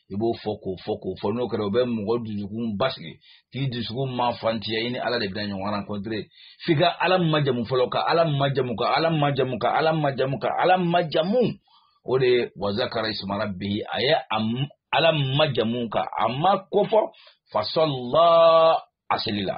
i b'o fɔ k'o fɔ k'o fɔ n'o kɛra o bɛ mɔgɔ dusukun basigi k'i dusukun ma fantiya i ni ala de bɛna ɲɔgɔn rencontrer f'i ka ala majamu fɔlɔ ka ala majamu ka ala majamu ka ala majamu ka ala majamu o de ye wazakara isma rabbihi a ye ala majamu ka a ma kofɔ fasalla a selila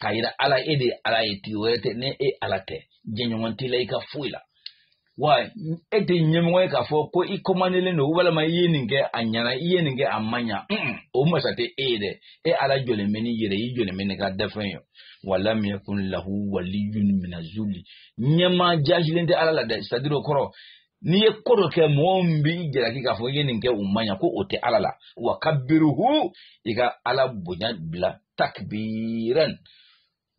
k'a yira ala e de ye ala ye tigi wɛrɛ tɛ ni e ala tɛ jɛɲɔgɔn t'i la i ka foyi la wa e tɛ ɲɛmɔgɔ ye k'a fɔ ko i kɔmandelen don walima i ye nin kɛ a ɲɛna i ye nin kɛ a ma ɲa o masa tɛ e ye dɛ e ala jɔlen bɛ n'i yɛrɛ ye i jɔlen bɛ n'i ka dafɛn ye walam yakun lahu waliyun mina zuli ɲɛmaa jaasilen tɛ ala la dɛ c'est-à-dire o kɔrɔ n'i ye ko dɔ kɛ mɔgɔ min b'i jalaki k'a fɔ i ye nin kɛ o ma ɲa ko o tɛ ala la wa kabiruhu i ka ala bonya bila takbiran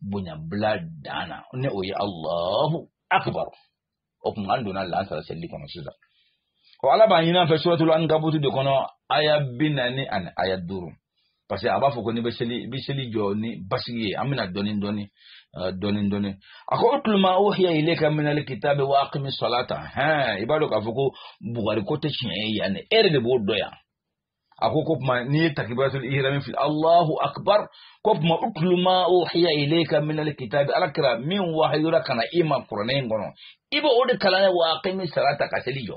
bonya bila dan na ni o ye alahu akbar o tuma an donna laansara selili kɔnɔ sisan o ala b'a ɲin'an fɛ suratul ankabutu de kɔnɔ aya bi naani ani aya duuru parce que a b'a fɔ ko n'i bɛ seli i bɛ seli jɔ ni basigi ye an bɛ na dɔɔni dɔɔni dɔɔni dɔɔni a ko utlu ma uhiya ilayka minal kitabi wa akimi salata hɛn i b'a dɔn k'a fɔ ko bugari ko tɛ tiɲɛ ye yan dɛ e yɛrɛ de b'o dɔn yan a ko k'o tuma n'i ye takibiratul ihrami fili alahu akbar k'o tuma utlu ma uhiya ilayka minal kitabi ala kira min wahayura ka na i ma kuranɛ in kɔnɔ i bɛ o de kalan ne wa akimi salata ka seli jɔ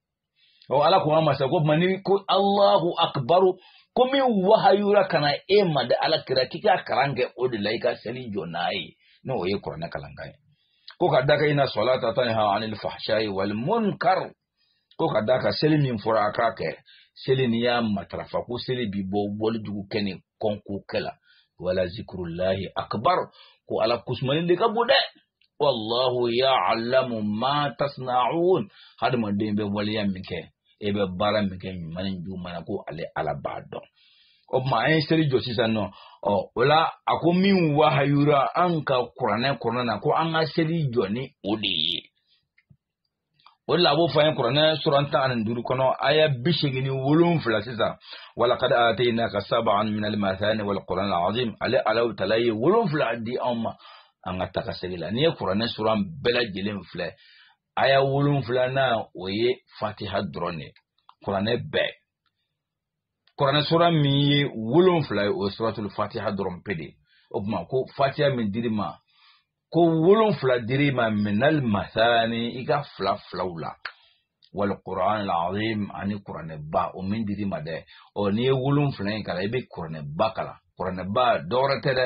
o ala ko an masa ko mani ko allahu akbaru ko min wahayura ka na e ma dɛ ala kira k'i ka kalan kɛ o de la i ka seli jɔ n'a ye n'o ye kuranɛ kalankan ye ko ka d'a kan inna salata tanha anil fahsha'i wal munkar ko ka d'a kan seli min fɔra a k'a kɛ seli n'i y'a matarafa ko seli b'i bɔ wale jugu kɛ ni kɔnko kɛ la wala zikrullahi akbar ko ala kusumani de ka bon dɛ wallahu ya'lamu ma tasna'un hadamaden bɛ waleya min kɛ e bɛ baara min kɛ ɲuman ni juguman na ko ale ala b'a dɔn o tuma an ye seli jɔ sisan nɔ ɔ o la a ko min wahayura an ka kuranɛ kɔnɔna na ko an ka seli jɔ ni o de ye o de la a b'o fɔ an ye kuranɛ suran tan ani duuru kɔnɔ aya bi seegin ni wolonfila sisan wa laqad ataynaka sab'an minal mathani wal qur'anal azim ale ala taala ye wolonfila di anw ma an ka taga segi la n'i ye kuranɛ suran bɛɛ lajɛlen filɛ aya wolonfila na o ye fatiha dɔrɔn de kuranɛ bɛɛ kuranɛ sura min ye wolonfila ye o ye suratul fatiha dɔrɔn pe de ye o tuma ko fatiha min dir'i ma ko wolonfila dir'i ma minal mathani i ka fila filaw la wal qur'anal azim ani kuranɛba o min dir'i ma dɛ ɔ n'i ye wolonfila in kalan i bɛ kuranɛba kalan kuranɛba dɔwɛrɛ tɛ dɛ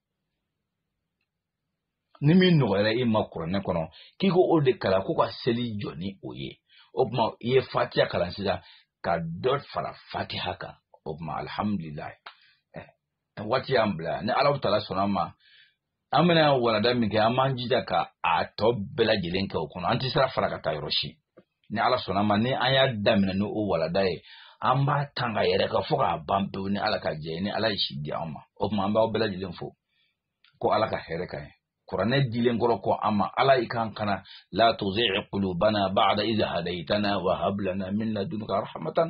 ni min nɔgɔyara e ma kuranɛ kɔnɔ k'i k'o de kalan ko ka seli jɔ ni o ye o tuma i ye fatiha kalan sisan ka dɔ fara fatiha kan o tuma alhamdulillahi waati y'an bila ni ala taala sɔnna ma an bɛna walanda min kɛ an b'an jija ka a tɔ bɛɛ lajɛlen kɛ o kɔnɔ an tɛ sira fara ka taa yɔrɔ si ni ala sɔnna ma ni an y'a daminɛ ni o walanda ye an b'a tan ka yɛrɛ ka fo k'a ban pewu ni ala ka jɛn ye ni ala ye si di an ma o tuma an b'aw bɛɛ lajɛlen fo ko ala ka hɛrɛ k'an ye kuranɛ dilen kɔrɔ kɔ an ma ala i kan kana la tuzigh qulubana ba'da idh hadaytana wa hab lana min ladunka rahmatan